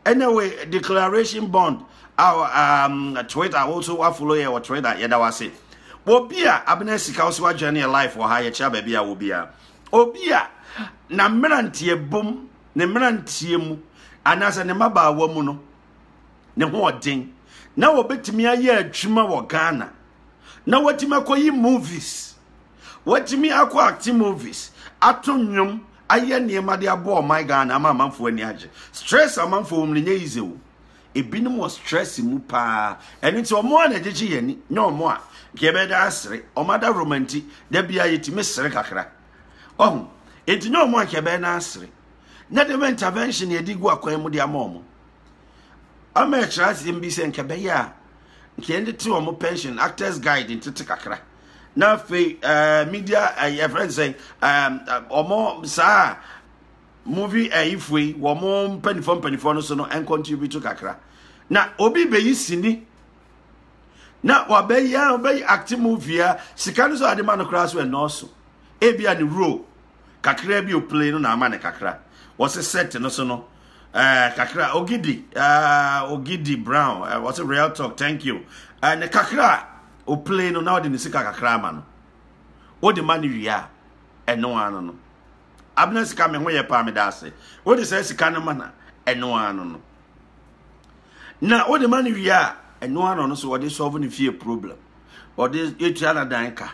ɛnna wɔ declaration bond a um, twitter woso wafolo yɛ wɔ twitter yɛda wo ase obi a abena sika wo sɛ wadwene ne yɛ life wɔ ha yɛkyerɛ baabi a wɔ biara obi a na mmeranteɛ bom ne mmeranteɛ mu anaasɛ ne mmabaawa mu no ne ho ɔden na wɔbɛtumi ayɛ adwuma wɔ ghana na wɔatumi akɔyi movies wɔatumi akɔ acting movies ato nnwom ayɛ nneɛma de abɔ ɔman ghana ama amanfoɔ ani agye stress amanfoɔ wɔm no nyɛ yize o ebinom wɔ stress mu paa ɛno nti ɔmo a na ɛgyegye yɛn ani nyɛ ɔmo a nka yɛbɛda asere ɔmo ada romanti da bia yɛtumi sere kakra ɔho enti nyɛ ɔmo a nka yɛbɛda asere na dɛm intervention yɛde gu akwan mu de ama wɔn ama ɛkyerɛ asɛm bi sɛ nka bɛyɛ a nka yɛn de te wɔn pension actors guide ntete kakra na afei ɛɛ eh, media ɛɛ eh, yɛfrɛ nsɛn ɛɛ wɔn saa movie ɛɛ eh, ifue wɔn mpanimfoɔ mpanimfoɔ no so no ɛncontribute kakra na obi bɛyi sini na wabɛyɛ wabɛyɛ acting movie a sika no so ade ma no koraa so ɛnɔɔso ebi a ne role. kakra bi o play no na ama ne kakra wɔse set no so no ɛɛ eh, kakra ogidi ɛɛ eh, ogidi brown ɛɛ eh, wɔse real talk thank you ɛɛ ne kakra o play no na ɔde ne sika kakra ama no ɔde ma ne wia ɛno ano no abena sika me ho yɛ paa me da ase ɔde sɛ sika no ma na ɛno ano no na ɔde ma ne wia ɛno ano no so ɔde solve ne fie problem ɔde etua na dan ka.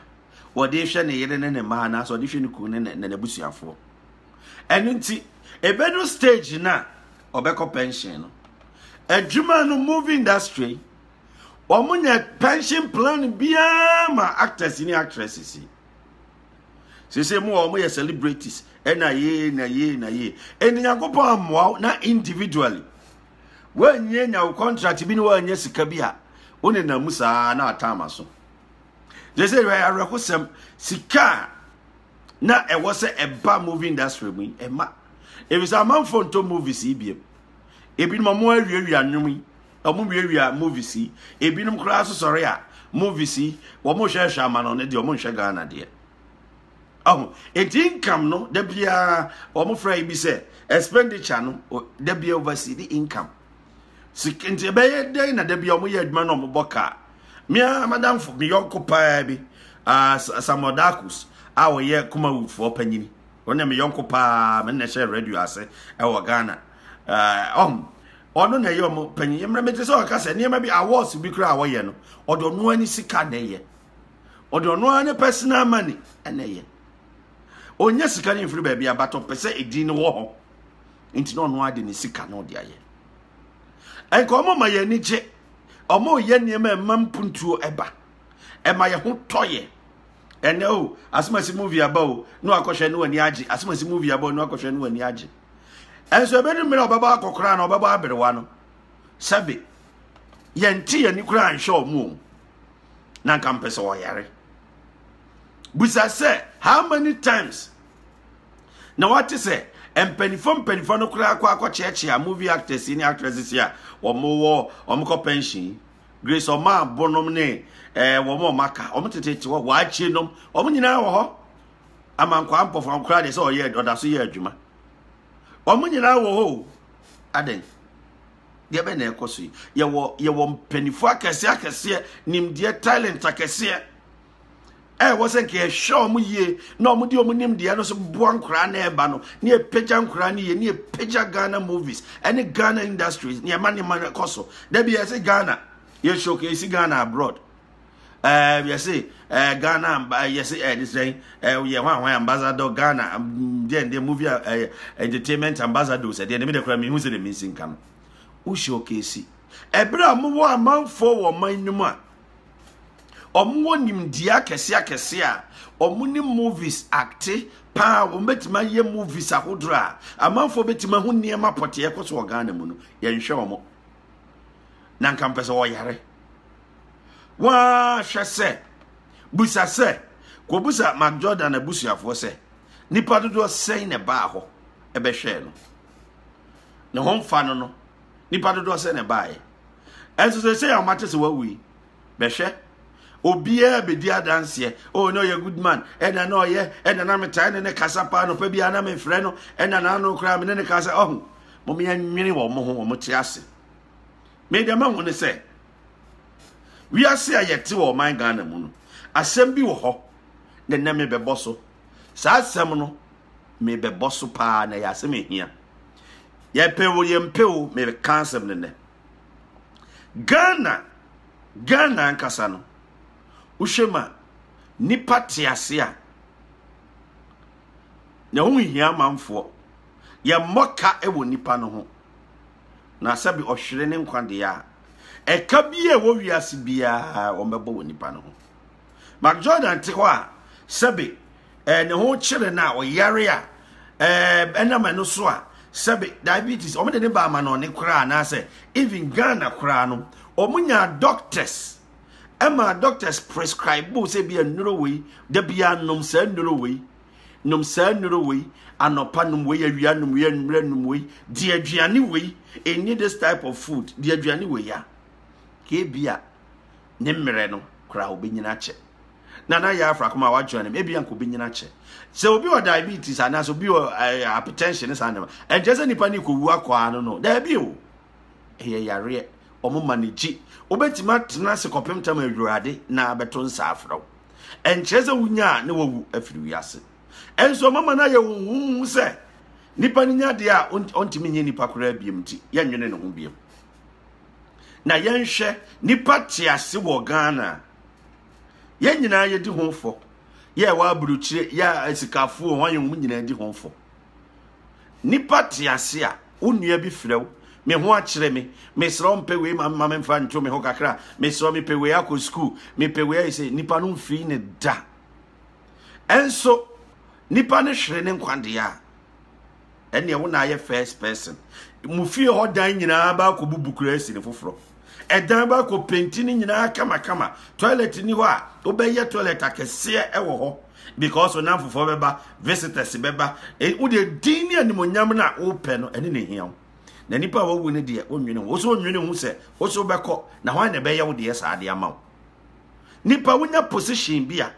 ɔde rehwɛ ne yere ne ne mma anaasɛ ɔde hwɛ ne kunu ne n'abusuafoɔ ɛno nti ɛbɛdu stage no a ɔbɛkɔ pension no adwuma no movie industry wɔn nyɛ pension plan biara ma actors ne actresses yi sese mu a wɔn yɛ celebrities ɛna yie na yie na yie ɛna nyankopɔn amoa na individually wɔnyɛ nya wo contract bi ne wɔnyɛ sika bi a wone na mu saa na atama so They say ɛyɛ awerɛhosɛm sika a na ɛwɔ sɛ ɛba movie industry mu yi ɛma ebisa amanfo ntɔ movies yi biem ebinom ɔmo awiawia nnwom yi ɔmo wiawia movies yi ebinom koraa so sɔre a movies yi wɔn hwɛhwɛ ama no ne deɛ wɔn nhwɛ ghana deɛ ɔho eti income no da biara wɔn fira yi bi sɛ expenditure no da biara oversee the income. sika nti ɛbɛyɛ dɛn na da bi a wɔyɛ adwuma na wɔbɔ kaa mmea madamfo me yɔnko paa bi uh, samuel dakus a wɔyɛ kumawufoɔ panyin wɔn na me yɔnko paa me na ɛhyɛ radio ase ɛwɔ ghana uh, um, ɔno na ɛyɛ ɔmo panyin mmerɛ mete sɛ ɔka sɛ nneɛma bi awards bi kora a wɔyɛ no ɔde ɔno ani sika na ɛyɛ ɔde ɔno ara ne personal money ɛna ɛyɛ ɔnyɛ sika no mfiri baabi a but ɔpɛ sɛ ɛdin no wɔ hɔ nti na ɔno ade ne sika na ɔde ayɛ ɛnka ɔmo ma yɛn ani gye ɔmo yɛ nneɛma ɛma mpuntuo ɛba ɛma yɛn ho tɔ yɛ ɛnɛ o asomasi movie aba o na wakɔhwɛ ne wani agye asomasi movie aba o na wakɔhwɛ ne wani agye ɛnso ɛbɛdu mmerɛ ɔbɛbɔ akɔkora na ɔbɛbɔ aberewa no sɛbe yɛnte yɛn ani koraa nhwɛ ɔmo o na nka mpɛ sɛ ɔyare busa sɛ how many times na wate sɛ mpanimfoɔ mpanimfoɔ no koraa kɔ akɔkyeakyea movie actors ne actresses a wɔwɔ wɔn kɔ pension yi grace ɔmaa bonom ne ɛɛ eh, wɔn a wɔn aka wɔn tete wɔ wɔakye nom wɔn nyinaa wɔ hɔ amankwaa mpɔfra koraa deɛ sɛ ɔyɛ ɔda so yɛ adwuma wɔn nyinaa wɔ hɔ o adɛn deɛ bɛn na ɛkɔ so yi yɛwɔ yɛwɔ mpanimfoɔ akɛseɛ akɛseɛ nimdeɛ talent akɛseɛ ɛwɔ sɛ nka yɛhwɛ ɔmo yie na ɔmo de ɔmo nim deɛ no so boa nkoraa na ɛba no ne yɛpagya nkoraa no yie ne yɛpagya ghana movies ɛne ghana industries ne yɛma ne ma no kɔ so da bi yɛse ghana yɛ showcase ghana abroad ɛɛ yɛse ɛɛ ghana yɛse ɛɛ de sɛn ɛɛ yɛ hwan hwan ambassador ghana deɛ deɛ movie ɛɛ entertainment ambassadors ɛdeɛ ne mi de kora mi hu sɛ de mi nsi nka no wo showcase ɛberɛ a mowɔ amanfoɔ wɔ ɔman no mu a wɔwɔ nimdeɛ akɛse akɛse a wɔn ne movies akte paa wɔn bɛtumi ayɛ movies ahodoɔ a amanfoɔ bɛtumi ahu nneɛma pɔtee ɛkɔ so wɔ ghana mu no yɛnhwɛ wɔn na nka mpɛ sɛ wɔyare wɔahwɛ sɛ busa sɛ kɔbusa mark jordan abusuafoɔ sɛ nipa dodoɔ sɛn na ɛbaa hɔ ɛbɛhwɛɛ no ne ho mfa no no nipa dodoɔ sɛn na ɛbaeɛ ɛnso sɛsɛ yɛ ɔmate sɛ wawu yi bɛhwɛ obiara bɛdi adanseɛ oh na ɔyɛ good man ɛna na ɔyɛ ɛna na metae ne ne kasa paa nɔpa biara na mefrɛ no ɛna na ano koraa me ne ne kasa ɔho momeɛ nwene wɔ mo ho wɔ mo te ase medeɛ mahu ne sɛ wiase a yɛte wɔ ɔman ghana mu no asɛm bi wɔ hɔ ne nɛ mebɛbɔ so saa asɛm no mebɛbɔ so paa na ɛyɛ asɛm ɛhia Yɛpɛ o yɛmpɛ o meka asɛm no nɛ. Ghana Ghana ankasa no wohwɛ ma nipa te ase a na ho hia amanfoɔ yɛmmɔ ka wɔ nipa no ho na sɛbi ɔhwere ne nkwa deɛ a ɛka bi a ɛwɔ wiase biara wɔbɛbɔ wɔ nipa no ho Mark Jordan te hɔ a sɛbi ɛɛ ne ho kyere no a ɔyare a ɛɛ ɛnam ɛno so a sɛbe diabetes wɔn de ne ba ama no ɔne koraa anaasɛ even ghana koraa no wɔn nyaa doctors ɛma doctors prescribe bo sɛ bi nnuro wei da bi anom saa nnuro wei nom saa nnuro wei anɔpa nom wei awia nom wei anwummerɛ nom wei di aduane wei ɛnni this type of food di aduane wei ya kebia ne mmerɛ no koraa ɔbɛnyini akyɛ na na yɛ afra kɔm a wadwene no ebi anka ɔbɛnyini akyɛ sɛ obi wɔ diabetes anaasɛ obi wɔ eh, hypertension ne saa nneɛma ɛnkyɛ sɛ nipa ne kɔwu akɔa no no daabi o ɛyɛ yareɛ wɔn ma ne gye wobɛtumi atena ase kɔpem tam awurade na abɛto nsa afrɛ wo ɛnkyerɛ sɛ wonya a ne wawu afiri wiase ɛnso ɔma ma no ayɛ wo huhu sɛ nipa no nya deɛ a ɔntumi nyɛ nipa koraa biam nti yɛnwene ne ho biam Na yɛnhwɛ nipa te ase wɔ Ghana. Yɛn nyinaa yɛdi ho fɔ. Yɛ wɔ aburukyire, yɛ asikafoɔ, wɔn yɛn wɔn nyinaa di ho fɔ. Nipa te ase a, wo nua bi frɛ wo, me ho akyerɛ me, mesrɛ mpɛ wei ma me ma me mfa nto me ho kakra, mesrɛ mepɛ wei akɔ sukuu, mepɛ wei ayɛ sɛ nipa no mfiri ne da. Ɛnso nipa no hwere ne nkwa deɛ a, ɛnneɛ wo na ayɛ first person mo fie hɔ dan nyinaa baakɔ bubu koraa si ne foforɔ ɛdan baakɔ penti ne nyinaa kamakama toilet ni hɔ a wobɛyɛ toilet akɛseɛ ɛwɔ hɔ because onam fofoɔ bɛba visitors bɛba e, wodeɛ din ne animonyam no a wopɛ no ɛne ne hia wo na nipa a wawu no deɛ wonwene ho wo so wonwene ho sɛ wo so wobɛkɔ na hwan na ɛbɛyɛ wo deɛ saa de ama wo nipa wonya position bi a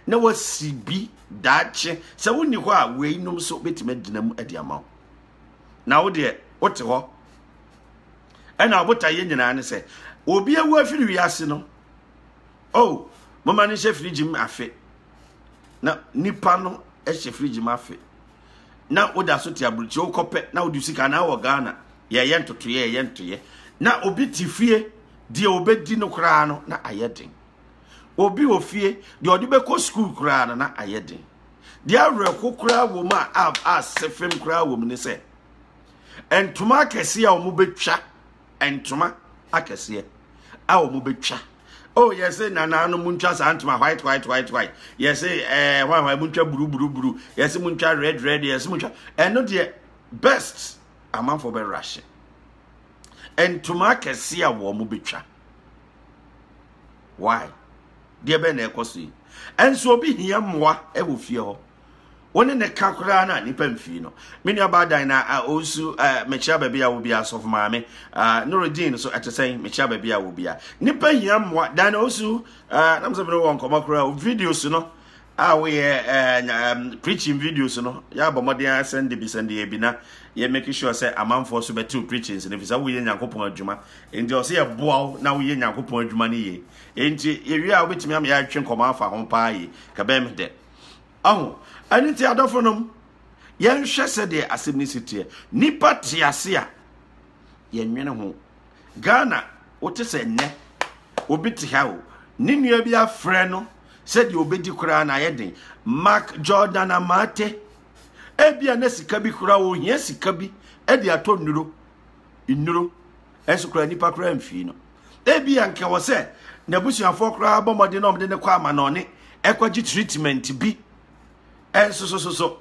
na wasi bi daakye sɛ wonni hɔ a weinom nso bɛtumi agyina mu de ama wo na wo deɛ wote hɔ ɛna ɔbotaeɛ nyinaa ne sɛ obi awu afiri wiase no o oh, moma no nhyɛ firigye mu afe na nipa no hyɛ firigye mu afe na woda so te aburukyi wokɔpɛ na wode sika na wɔ ghana yɛyɛ ntotoyɛ yɛyɛ ntoyɛ na obi te fie deɛ obɛdi no koraa no na ayɛ den obi wɔ fie deɛ ɔde bɛkɔ sukuu koraa no na ayɛ den deɛ awerɛho koraa wɔ mu a a sefem koraa wɔ mu ne sɛ ntoma akɛseɛ a wɔbɛtwa ntoma akɛseɛ a wɔbɛtwa oh yɛsɛ nananom mu ntwa saa ntoma white white white white yɛsɛ ɛɛ eh, hwanhwan mu ntwa buru buru buru yɛsɛ mu ntwa red red yɛsɛ mu ntwa ɛno deɛ best amanfoɔ bɛ rahyɛ ntoma akɛseɛ a wɔbɛtwa why deɛ bɛn na ɛkɔ so yi ɛnso obi hia mmoa ɛwɔ fie hɔ wɔne ne ka koraa na nipa mfii no me nua baadan na ɔnsu mekyia baabi a wɔbi asɔfo maame norogyen so ɛte sɛn mekyia baabi a wɔbi a nipa hia mmoa dan na ɔnsu nam sɛ mene wɔ nkɔmmɔ koraa videos no a woyɛ preaching videos no yɛabɔ mmɔden ara sɛ nde bi sɛ nde bi na yɛ make sure sɛ amanfoɔ so bɛtew preachings no fi sɛ woyɛ nyankopɔn adwuma nti ɔsɛ yɛboa wo na woyɛ nyankopɔn adwuma no yie nti yɛwie a wobɛtumi ama yɛatwe nkɔmmɔ afa ho paa yi kabɛn me dɛ ɔho ɛno nti adɔfo nom yɛnhwɛ sɛdeɛ asɛm no si teɛ nipa te ase a yɛnwene ho Ghana wote sɛ nnɛ obi te ha o ne nua bi afrɛ no sɛdeɛ obɛdi koraa na ayɛ den mark jordan amaate ebia na sika bi koraa ohia sika bi de atɔ nnuro nnuro ɛnso koraa nipa koraa mfii no ebia nka wɔ sɛ n'abusuafoɔ koraa bɔ mmɔden na ɔmde ne kɔ ama na ɔne ɛkɔgye treatment bi ɛnso so so so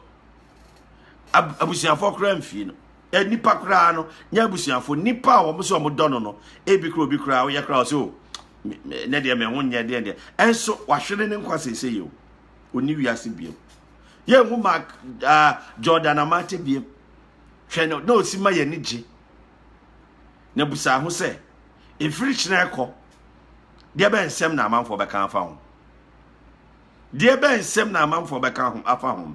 abusuafoɔ koraa mfii no eh, nipa koraa no nyɛ abusuafo nipa a wɔn so wɔn dɔ no no ebi kura obi koraa ɔyɛ koraa ɔsɛ o oh, ne deɛ mɛ ho nyɛ deɛ deɛ ɛnso wahwere ne nkwa sese yi o oni wiase biem yɛn ho mark uh, jordan amate biem hwɛ no na osi ma yɛn ani gye na busa ho sɛ efiri kyerɛ kɔ deɛ bɛ nsɛm na amanfoɔ bɛka afa ho deɛ bɛ nsɛm na amanfoɔ bɛka afa ho.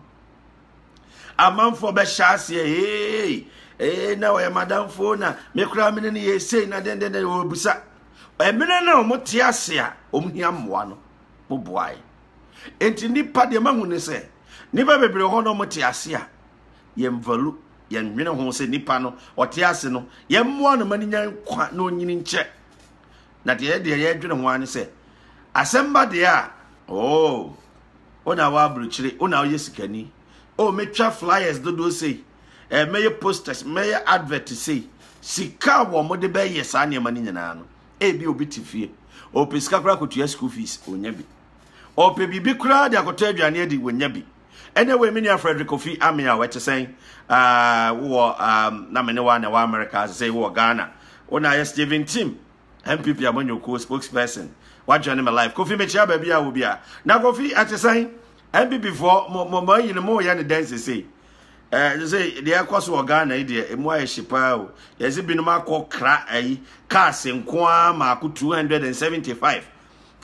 amanfoɔ bɛhyɛ aseɛ hee ee na ɔyɛ madamfoɔ na me koraa mene no yɛ sei na dendenden wɔbusa ɛmene no a wɔte ase a wɔn hia mmoa no moboae enti nnipa deɛ mahu ne sɛ nnipa bebree hɔ na wɔte ase a yɛn valu yɛn nwene ho sɛ nnipa no ɔte ase no yɛn mmoa no ma no nya nkwa na ɔnyini nkyɛ na deɛ yɛdeɛ yɛdwene ho ara ne sɛ asɛm ba deɛ a oo oh, Wo na w'aburukyire, wo na woyɛ sikani. O oh, metwa flyers dodoɔ sei, eh, mɛyɛ posters, mɛyɛ advert sei. Sika a wɔn de bɛyɛ saa nneɛma no nyinaa no, ebi obi te fie, ɔpɛ sika koraa kɔtua school fees, ɔnya bi. Ɔpɛ biribi koraa de akɔtɔ aduane adi, ɔnya bi. Ɛnna wei me nua Frederick Kofi Ame a wɔte sɛn, ah, wowɔ, ah, na me ne wa na ɛwɔ America, sɛ wowɔ Ghana. Wo na ayɛ Stephen Tim, NPP amanyɔkuo spokesperson wajoin me live Kofi mekyia baabi a wɔ bi a na Kofi ɛte sɛn NPP foɔ mo mo mo ayi no mo yɛ ne dɛn sesei ɛɛ sɛ deɛ ɛkɔ so wɔ Ghana yi deɛ emu ayɛ hye paa o deɛ sɛ binom akɔ kra ayi cars nko ara maako 275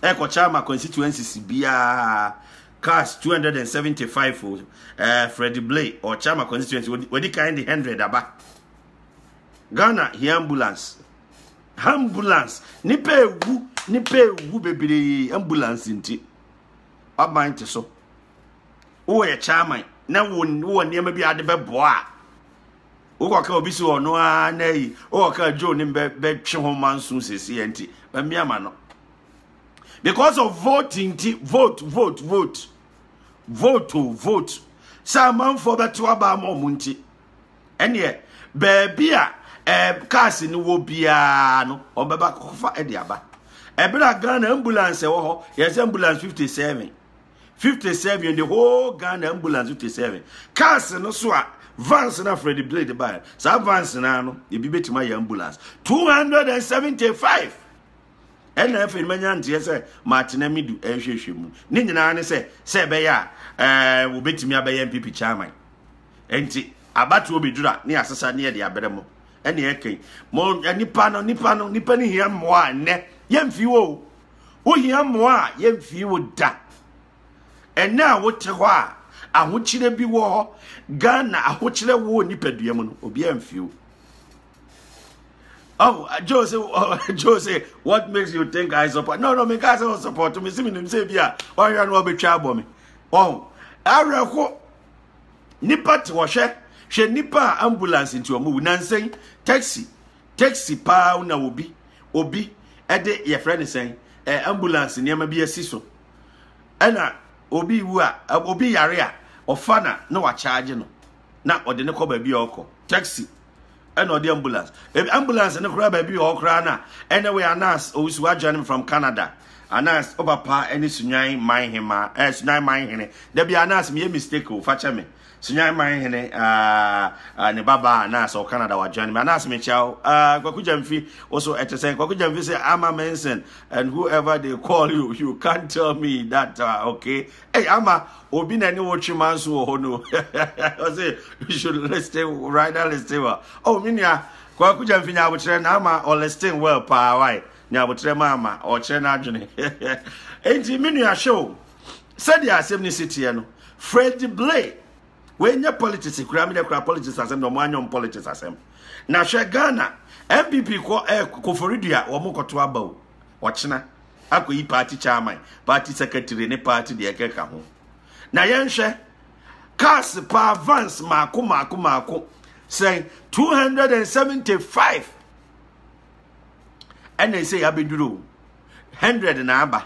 ɛkɔkyɛ ama constituencies biara cars 275 o ɛɛ Freddy Blay ɔkyɛ ama constituency wadi kan de 100 aba Ghana hia ambulance. ambulance nipa ewu nipa ewu bebree ambulance nti waban te so wowɔ yɛ chairman na wowɔ nneɛma bi ade bɛboa a wokɔka obi si ɔno ara na yi wokɔka joe ne bɛtwe ho ma nso sɛsi nti bɛmmea ma no because of vote nti vote vote vote vote o vote sɛ amanfoɔ bɛto aba ama ɔmo nti ɛneɛ baabi a ɛɛ cars no wɔ biara no wɔn bɛba akɔfa ɛde aba ɛbɛrɛ a ghana ambulance ɛwɔ hɔ yɛsɛ ambulance fifty seven fifty seven the whole ghana ambulance fifty seven cars no so a vans na fred blade baa saa vans na no ebi betuma yɛ ambulance two hundred and seventy five ɛna afei manya nteɛ sɛ matena mi du ɛhwehwɛ mu ne nyinaa ne sɛ sɛ ɛbɛyɛ a ɛɛ wobɛtumi abɛyɛ npp chairman. Enti abatoɔ bɛduru a ne yɛasesa ne yɛde abrɛ mo ɛne ɛka yi mo nipa no nipa no nipa no hia mmoa a nnɛ yɛmfii wo o wohia mmoa a yɛmfii wo da ɛnɛ a wote hɔ a ahokyerɛ bi wɔ hɔ ghana ahokyerɛ wɔ nipadua mu no obiara mfii wo Oh, uh, Joe say, uh, Joe say, what makes you think I support? No, no, me can't say support. Me see me name say be a. Why you know be trouble me? Oh, I reckon. nipa te hɔ hwɛ hwɛ nipa a ambulance nti wɔn wu nansan taxi taxi paa na obi obi ɛde yɛfrɛ ne sɛn ɛɛ eh, ambulance nneɛma bi asi so ɛna obi wu a obi yare a ɔfa na na wakyaagye no na ɔde ne kɔ baabi a ɔkɔ taxi ɛna ɔde ambulance ebi ambulance no koraa baabi wɔ hɔ koraa na ɛna wei anas owusu wa join me from canada anas o papa ɛne sunyan man hema ɛɛ eh, sunyan man hene dabi anas mi yɛ mistake o fa kyɛ me sunyan man hene ɛɛ ah, ah, ne baba anas ɔ canada wa join me anas mi kyɛ o ɛɛ eh, kwaku gyamfi also ɛte sɛ kwaku gyamfi sɛ ama menson and whoever they call you you can't tell me that uh, okay Hey, ama obi na ne wo twe man so wɔ hɔ no ɔse you should listen rider listen well oh me nua kwaku gyamfi nyaabotrɛ na ama ɔlisten well paa wae nyaabotrɛ ma ama ɔkyerɛ no adwene enti me nua hwɛ o sɛdeɛ asɛm no si teɛ no fred blay wɔnyɛ politics kura me dɛ kura politics asɛm na ɔmo anyɔm politics asɛm na hwɛ ghana npp kɔ ɛ eh, koforidua wɔn kɔto aba o ɔkyena akɔyi party chairman, party secretary ne party deɛ ɛkeka ho. Na yɛnhwɛ cars paa vans mako mako mako sɛn 275 ɛna ɛsɛ yɛabɛduru 100 na aba.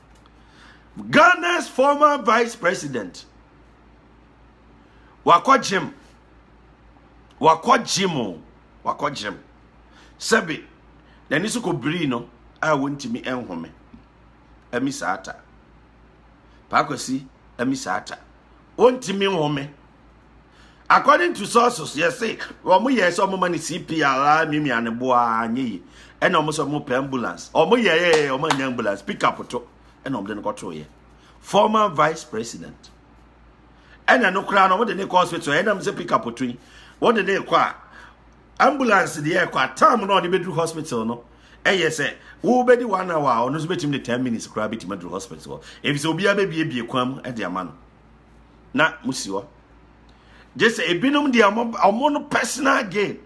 Ghana's former vice president wakɔ gyem wakɔ gyem o wakɔ gyem sɛbi n'ani so kɔ biri no a wɔntumi nhome ɛmi saa ta paakwasi ɛmi saa ta wɔntumi nhome According to sources, yes, say omo yɛ sɛ omo ma ne CPR a mimia ne boa nye yi. Ɛna omo sɛ omo pɛ ambulance. Omo yɛ yɛ yɛ omo anya ambulance pick up to. Ɛna omo de no kɔto yɛ. Former vice president. Ɛna no kura no omo de ne kɔ hospital. Ɛna mo sɛ pick up to yi. Wo de ne kɔ a ambulance de yɛ kɔ a time no ɔde bɛduru hospital no ɛyɛ sɛ wobɛdi one hour a ɔno nso bɛtumi de ten minutes koraa bɛtumi aduru hospital hɔ ɛfisɛ obiara bɛbiebie kwan mu de ama no na mosi hɔ gye sɛ ebinom deɛ ɔmo no personal gain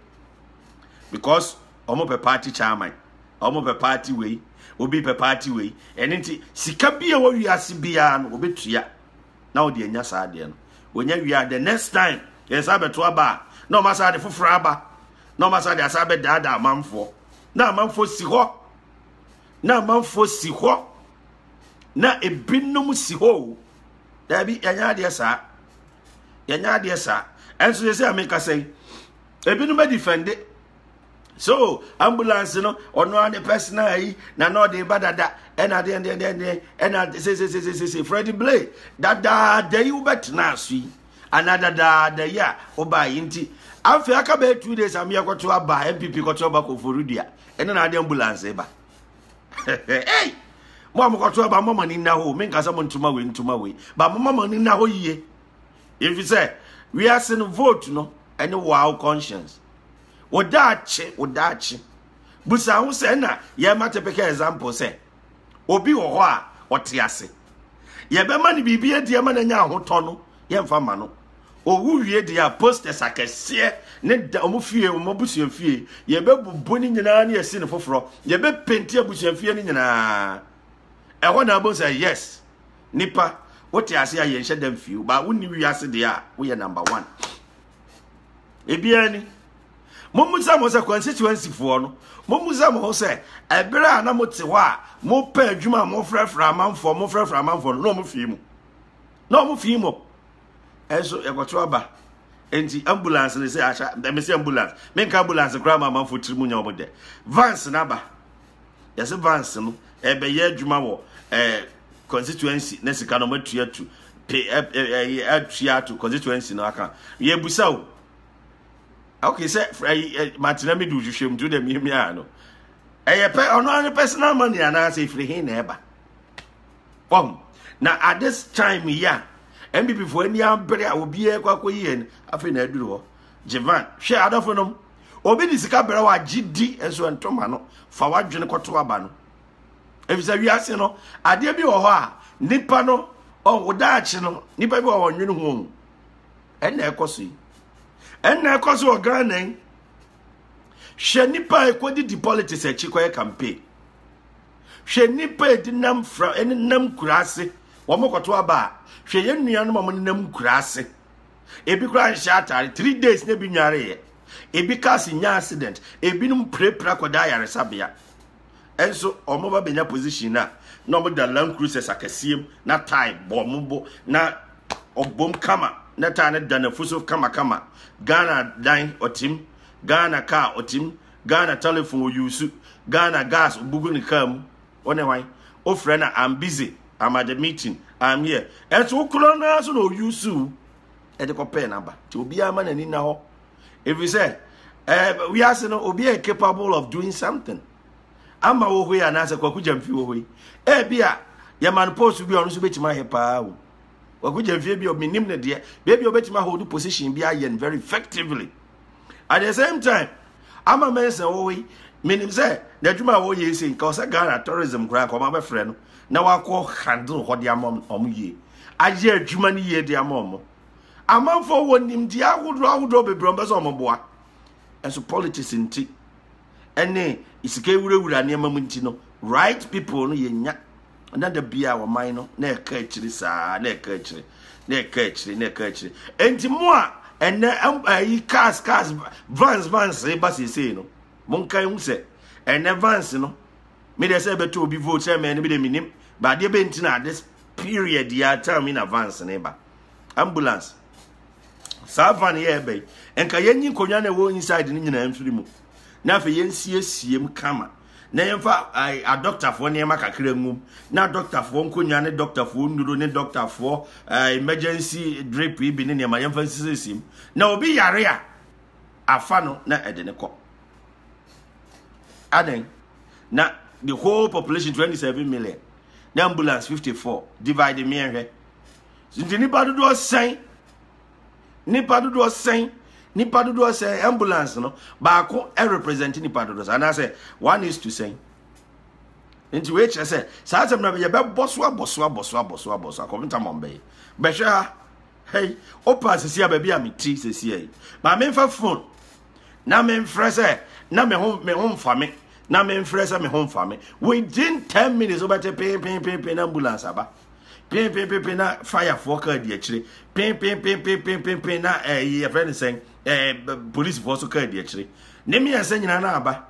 because ɔmo pɛ party chairman ɔmo pɛ party wei obi pɛ party wei ɛne nti sika bi a wɔwi ase biara no wɔbɛtua na wɔde anya saa adeɛ no wɔnya wie a the next time yɛn saa bɛto aba a na wɔn asa de foforɔ aba na wɔn asa de asa bɛdaadaa amanfoɔ na amanfoɔ si hɔ na amanfoɔ si hɔ na ebinom si hɔ o daabi yɛnyɛ adeɛ saa yɛnyɛ adeɛ saa ɛnso yɛ sɛ amekasa yi ebinom adi fɛnde so ambulance no ɔno ara ne personal yi na na ɔde ba dada ɛna deɛ deɛ deɛ deɛ ɛna sesesesese fred blay dadaada yi wobɛtena aso yi anaa dadaada yi a wobae yi nti afei aka bɛyɛ two days a meyɛ kɔto aba npp kɔto aba kɔforodua ɛne na ade ambulance ba ei mo a mokɔto aba mma mo ani nna hɔ menka sɛ montoma wei ntoma wei ba momma mo ani nna hɔ yie ɛfi sɛ wiase no vote no ɛne wow conscience wodaakye wodaakye busa ho sɛ na yɛma typical example sɛ Obi wɔ hɔ a ɔte ase. Yɛbɛma no biribi adi ama no anya ahotɔ no, yɛmfa mma no. Owu wie deɛ a, posters akɛseɛ ne da wɔn fie, wɔn abusua fie, yɛbɛbubu ne nyinaa ne yɛsi no foforɔ. Yɛbɛpenti abusua fie no nyinaa. Ɛhɔ na abom sɛ yes, nipa wote ase a yɛnhyɛ da mfie, ba wonni wiase deɛ a woyɛ number one. ebiara ni mommisa mo sɛ constituencyfoɔ no mommisa mo ho sɛ ɛberɛ a na mote hɔ a mopɛ adwuma a mofrɛfrɛ amanfoɔ mofrɛfrɛ amanfoɔ no na ɔmo fii mu na ɔmo fii mu ɛnso yɛkɔto aba nti ambulance ne sɛ ahyɛ mɛmɛ sɛ ambulance menka ambulance koraa ma amanfoɔ tiri mu nya ɔmo dɛ vans n'aba Yɛse Vance no ɛbɛyɛ adwuma wɔ ɛɛ constituency ne sika no matua tu pe ɛɛ atua ato constituency no aka. Yɛbusa o. Okay sɛ ɛɛ matena mi du hwehwɛ mu to dɛ miamia no. Ɛyɛ pɛ ɔno ara personal money anaasɛ efiri he na ɛba. Wɔn na at this time yi a NPP fo ani abere a obiara kɔ akɔyi yɛn afei na aduru hɔ. Jevan, hwɛ adɔfo nom, obi de sika brɛ wo agye di nso ɛnto ma no fa w'adwene kɔto aba no efisɛ wiase no adeɛ bi wɔ hɔ a nipa no ɔwɔ daakye no nipa bi wɔ hɔ nwene ho ɛnna ɛkɔ so yi ɛnna ɛkɔ so wɔ Ghana yi hwɛ nipa a ɛkɔdidi politics akyi kɔyɛ campaign hwɛ nipa a ɛdi nam fra ɛne nam kura ase wɔn kɔto aba a hwɛ yɛn nuanom a wɔn nam kura ase. ebi koraa nhyɛ atare three days na ebi nwareeɛ ebi cars nya accident ebinom pirapira kɔda ayaresabea ɛnso wɔn ba bɛnya position na na wɔn da land cruisers akɛseɛ mu na tie bɔ wɔn bo na ɔbom kama na tie no da n'afu so kamakama ghana dan ɔtim ghana car ɔtim ghana telephone ɔyusu ghana gas ɔbugu ne car mu Wo ne wan? Wofrɛ no I'm busy, I'm at the meeting, I'm here. Ɛnso wo korɔ no ara so na ɔuse wo ɛde kɔpɛɛ no aba. Nti obiara ma n'ani na hɔ. Ɛfiri sɛ ɛɛ wiase no obi yɛ capable of doing something. Ama wɔ hɔ yi anaasɛ kwaku gyamfi wɔ hɔ yi. Ɛbi a yɛma no post bi a ɔno nso bɛtumi ayɛ paa o. Kwaku gyamfi bi a menim ne deɛ. Baabi a ɔbɛtumi ahodo position bi ayɛ no very effectively. at the same time ama mɛnsɛn wɔ hɔ yi menim sɛ n'adwuma a wɔyɛ sɛ nka ɔsɛ ghana tourism koraa nka ɔma bɛfrɛ no na wakɔ handle hɔ de ama ɔmo yie ayɛ adwuma no yie de ama ɔmo amanfoɔ wɔ nimdeɛ ahodoɔ ahodoɔ bebree ɔmo bɛ sɛ ɔmo boa ɛso politics nti ɛne sika ewurawura nneɛma mu nti no right people no yɛnya na da bi a ɔman no na ɛka akyiri saa na ɛka akyiri na ɛka akyiri na ɛka akyiri nti mo a ɛnɛ ɛyi cars cars vans vans ba seesei no monka ehu sɛ ɛnɛ vans no me deɛ sɛ ɛbɛtɔ obi vote sɛ mɛ no bi de menim baadeɛ bɛnti na ade period yɛ atam mi na vans ne ba ambulance saa van yɛ ɛbɛn nka yɛnyi nkonnwa na ɛwɔ inside no nyinaa mfiri mu na afei yɛnsiesie mu kama na yɛmfa adɔktafoɔ nneɛma kakra ngum na adɔktafoɔ nkonnwa ne dɔktafoɔ nnuro ne dɔktafoɔ emergency drip bi ne nneɛma yɛmfa nsiesie mu na obi yare a afa no na ɛde ne kɔ adan na the whole population 27 million na ambulance 54 divide mmiɛnhwɛ Nti nipa dodoɔ sɛn nipa dodoɔ sɛn nipa dodoɔ sɛn ambulance no baako represent nipa dodoɔ sɛn anaasɛ one is to sɛn nti wei kyerɛ sɛ saa asɛm na yɛbɛbɔ so abɔ so abɔ so abɔ so abɔ so akɔmta mɔm bɛyɛ bɛhwɛ ha hei wopa sisi a baabi a meti sisi yi ma memfa phone na memfrɛ sɛ na me ho me ho mfa me na memfrɛ sɛ me ho mfa me within ten minutes wobɛte peenpeenpeen na ambulance aba penpenpenpen na fayafoɔ kaa di akyire penpenpenpenpenpen na ɛyi eh, yɛfrɛ no sɛn ɛɛ eh, polisifoɔ so kaa di akyire ne mmiɛnsa nyinaa na aba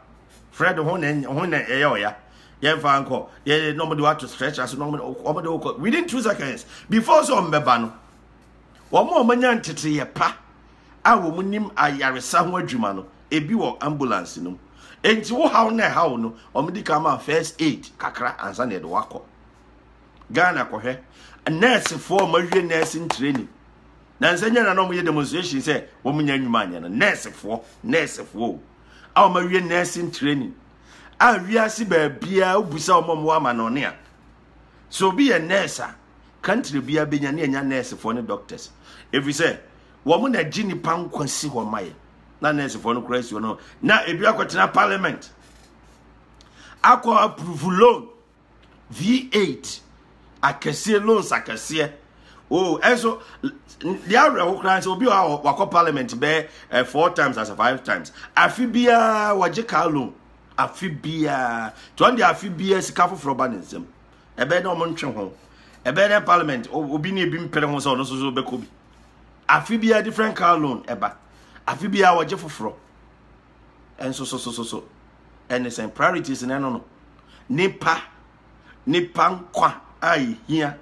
fred ho na ho na ɛyɛ ɔya yɛnfa nkɔ yɛ na wɔn de wato stretch ase na wɔn de wɔkɔ within two seconds before sɛ wɔn bɛba no wɔn a wɔn anya nteteyɛ pa a wɔn nim ayaresa ho adwuma no ebi wɔ ambulance no mu nti wo haw na ɛhaw no wɔn di kan ma first aid kakra ansa na yɛde wakɔ Ghana kɔhwɛ nɛɛsefoɔ a wɔawie nursing training na nsɛ nyɛ na na wɔyɛ demonstration sɛ wɔn nya nnwuma anyɛ no nɛɛsefoɔ nɛɛsefoɔ o a wɔawie nursing training a wiase baabiara wobisa wɔn a wɔwɔ amanɔne a sɛ obi yɛ nɛɛse a country biara bɛnya ne ɛnya nɛɛsefoɔ ne doctors ɛfiri sɛ wɔn na gye nipa nkwa si hɔ ma yɛ na nɛɛsefoɔ no koraa si hɔ no na ebi akɔtena parliament akɔ approve loan V8 akɛseɛ loans akɛseɛ oh ɛnso deɛ awerɛho koraa sɛ obi a wakɔ parliament bɛɛ eh, four times as a five times afi biara wɔgye car loan afi biara tí wɔn de afi biara sika foforɔ ba ne nsam ɛbɛyɛ dɛ wɔn ntwe ho ɛbɛyɛ dɛ parliament obi ne ebi mpere ho sɛ ɔno nso so bɛkɔ bi afi biara different car loan ɛba afi biara wɔgye foforɔ nso so so so so ɛne sɛn priorities na ɛno no nipa nipa nkwa a ehia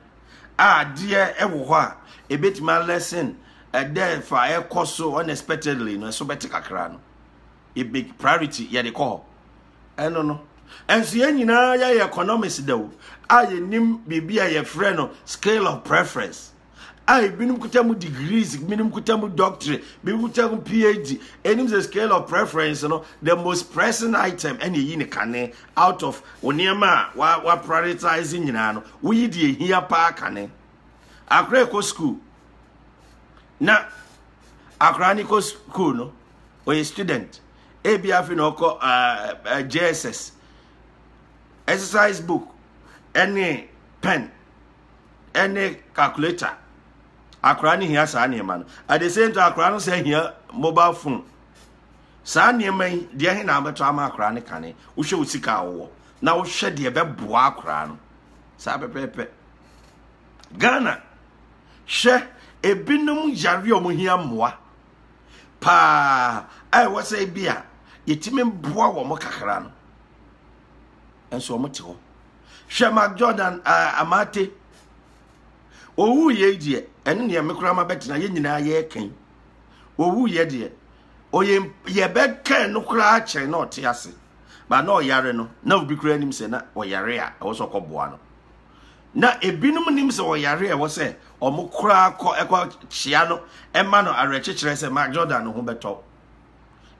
a adeɛ ɛwɔ hɔ a ebetumi alɛsen ɛdɛ fa ɛkɔ so unexpectedly no ɛso bɛte kakra no ebe priority yɛde kɔ hɔ ɛno no ɛnso yɛn nyinaa yɛyɛ economics da o a yɛnim biribi a yɛfrɛ no scale of preference. a ebinom kuta mu degrees ebinom kuta mu doctorate ebinom kuta mu phd ɛnim sɛ scale of preference no the most pressing item ɛna eyi ne kane out of nneɛma a wa wa prioritize nyinaa no woyi deɛ ehia paa kane akora ɛkɔ school na akora ne kɔ school no ɔyɛ student ebi afi na ɔkɔ uh, uh, jss exercise book ɛne pen. ɛne calculator akwaraa no hia saa nneɛma no at the same time akwaraa no sɛ hia mobile phone saa nneɛma yi deɛ he na abɛtɔ ama akwaraa no kane wohwɛ wo sika a wowɔ na wohwɛ deɛ ɛbɛboa akwaraa no saa pɛpɛɛpɛ ghana hwɛ ebinom yare a wɔn hia mmoa paa a ɛwɔ sɛ bi a yɛtumi boa wɔn kakra no nso wɔn te hɔ hwɛ mark jordan uh, amate owu yɛ deɛ ɛne neɛ me koraa ma bɛtena yɛ nyinaa yɛ kan owu yɛ deɛ ɔyɛ yɛbɛkɛn no koraa kyɛn na ɔte ase ba na ɔyare no na obi koraa nim sɛ na ɔyare a ɛwɔ sɛ ɔkɔboa no na ebinom nim sɛ ɔyare a ɛwɔ sɛ ɔmo koraa kɔ ɛkɔ kyea no ɛma no awerɛkyekyerɛ sɛ mark jordan no ho bɛtɔ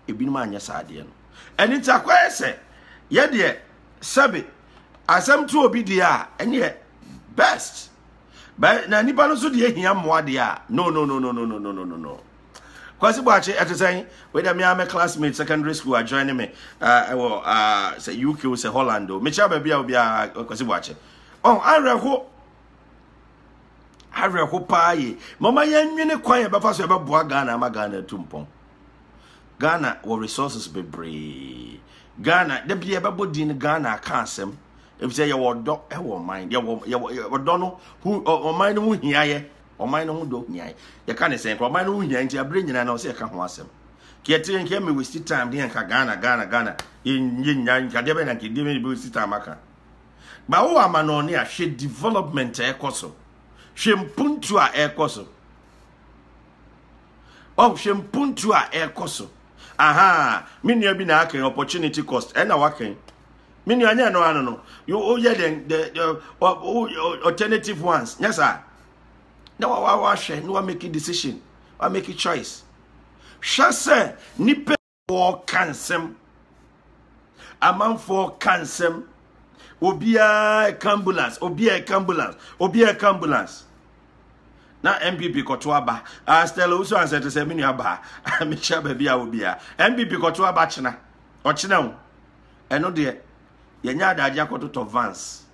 ebinom anyɛ saa adeɛ no ɛne nti akɔyɛ sɛ yɛdeɛ sɛbe asɛm to obi deɛ a ɛneɛ best but na nipa no nso deɛ hia mmoa deɛ a no no no no no no no no no no kwasi bɔakye ɛte sɛn wei dɛ me a me classmate secondary school adjoin ne me ɛwɔ sɛ uk o sɛ holland o mekyia baabi a obiara kwasi bɔakye ɔn awerɛho awerɛho paa ye mama yɛnwene kwan yɛbɛfa so yɛbɛboa ghana ama ghana atu mpɔn Ghana wɔ resources bebree. Ghana da bi yɛbɛbɔ din no Ghana aka asɛm efisɛ yɛwɔ ɔdɔ ɛwɔ ɔman yɛwɔ yɛwɔ ɔdɔ no ho ɔman no ho hiayɛ ɔman no ho dɔ hiayɛ yɛka ne sɛn kora ɔman no ho hiayɛ nti abere nyinaa na ɔsɛ yɛka ho asɛm kɛtiri nkɛ mi waste time deɛ nka Ghana Ghana Ghana yɛ nya nkadeɛ bɛ na nka deɛ bɛ waste time aka ba wo ama na ɔne ahwɛ development ɛkɔ so hwɛ mpuntu a ɛkɔ so. Oh, hwɛ mpuntu a ɛrekɔ so. Aha, me nua bi na akɛn opportunity cost. Ɛna wakɛn. Me nua nyɛ no ano no. You oh yeah then the the oh, oh, alternative ones. Nyɛ saa. Na wa wa wa hwɛ na wa make decision. Wa make choice. Hwɛ sɛ nipa wɔka nsɛm amanfoɔ ka nsɛm obiara ɛka ambulance obiara ɛka ambulance obiara ɛka ambulance na npp kɔto aba ah, stella wosu ansɛ te sɛ me nua baa mekyia baabi a obiara npp kɔto aba kyena ɔkyena o ɛno deɛ yɛnyɛ adagye akɔtotɔ vans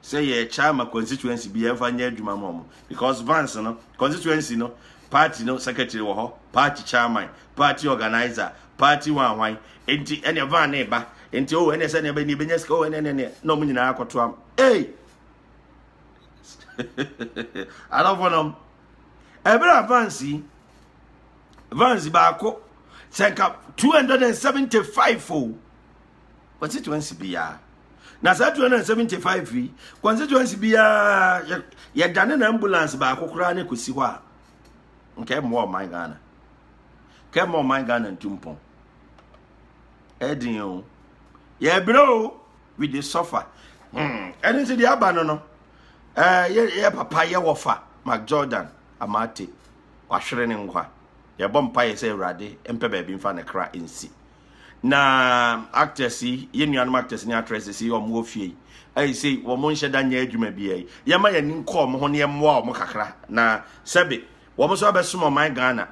sɛ yɛkyɛ ama constituency bi yɛmfa nyɛ adwuma ma wɔn because vans no constituency no party no secretary wɔ hɔ party chairman party organizer party wanwan nti ɛnna van ne ba nti o oh, ɛnna sɛ ne bɛ ne bɛ nya sika o oh, ɛnna ɛnna na wɔn nyinaa akɔto am ee adɔfo nom ɛbɛrɛ a vans yi vans baako sɛ nka two hundred and seventy five o. Oh, constituency biara na saa 275 yi constituency biara yɛdane na ambulance baako koraa ne kɔsi hɔ a nka ɛmmoa ɔman ghana ka ɛma ɔman ghana ntumpɔn ɛden o yɛbrɛ o we dey suffer hmm, ɛno nti deɛ aba no no yɛ papa yɛ wɔfa mac jordan amaate wahwere ne nkwa yɛbɔ mpaeɛ sɛ awurade mpɛ baabi mfa ne kra nsi na actors yi yɛ nuanom actors ne actresses yi wɔn wɔ fie yi ɛyi sɛ wɔn nhyɛ da nyɛ adwuma bi yi yɛma yɛn ani nkɔ wɔn ho ne yɛmmoa wɔn kakra na sɛbe wɔn nso abɛsom ɔman ghana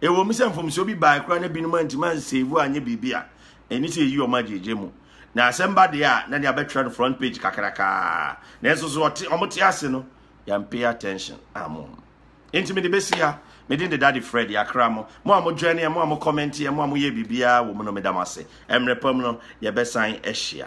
ɛwɔ mu sɛ mfomsoɔ bi baa kura na binom antumi ansave anyɛ biribi a ɛni sɛ yɛyi wɔn agyegye mu na asɛm ba deɛ a na deɛ abɛtwerɛ no front page kakrakaa nanso so wɔn te ase no yɛn pay attention amom. Enti mede bɛsi ha. Me din de Daddy Fred, yɛakra mo. Mo a mo joineɛ, mo a mo kɔmɛnteɛ, mo a moyɛɛ biribiara wɔ mu no, meda mo ase. Mmerɛ pa mu no, yɛbɛsan ahyia.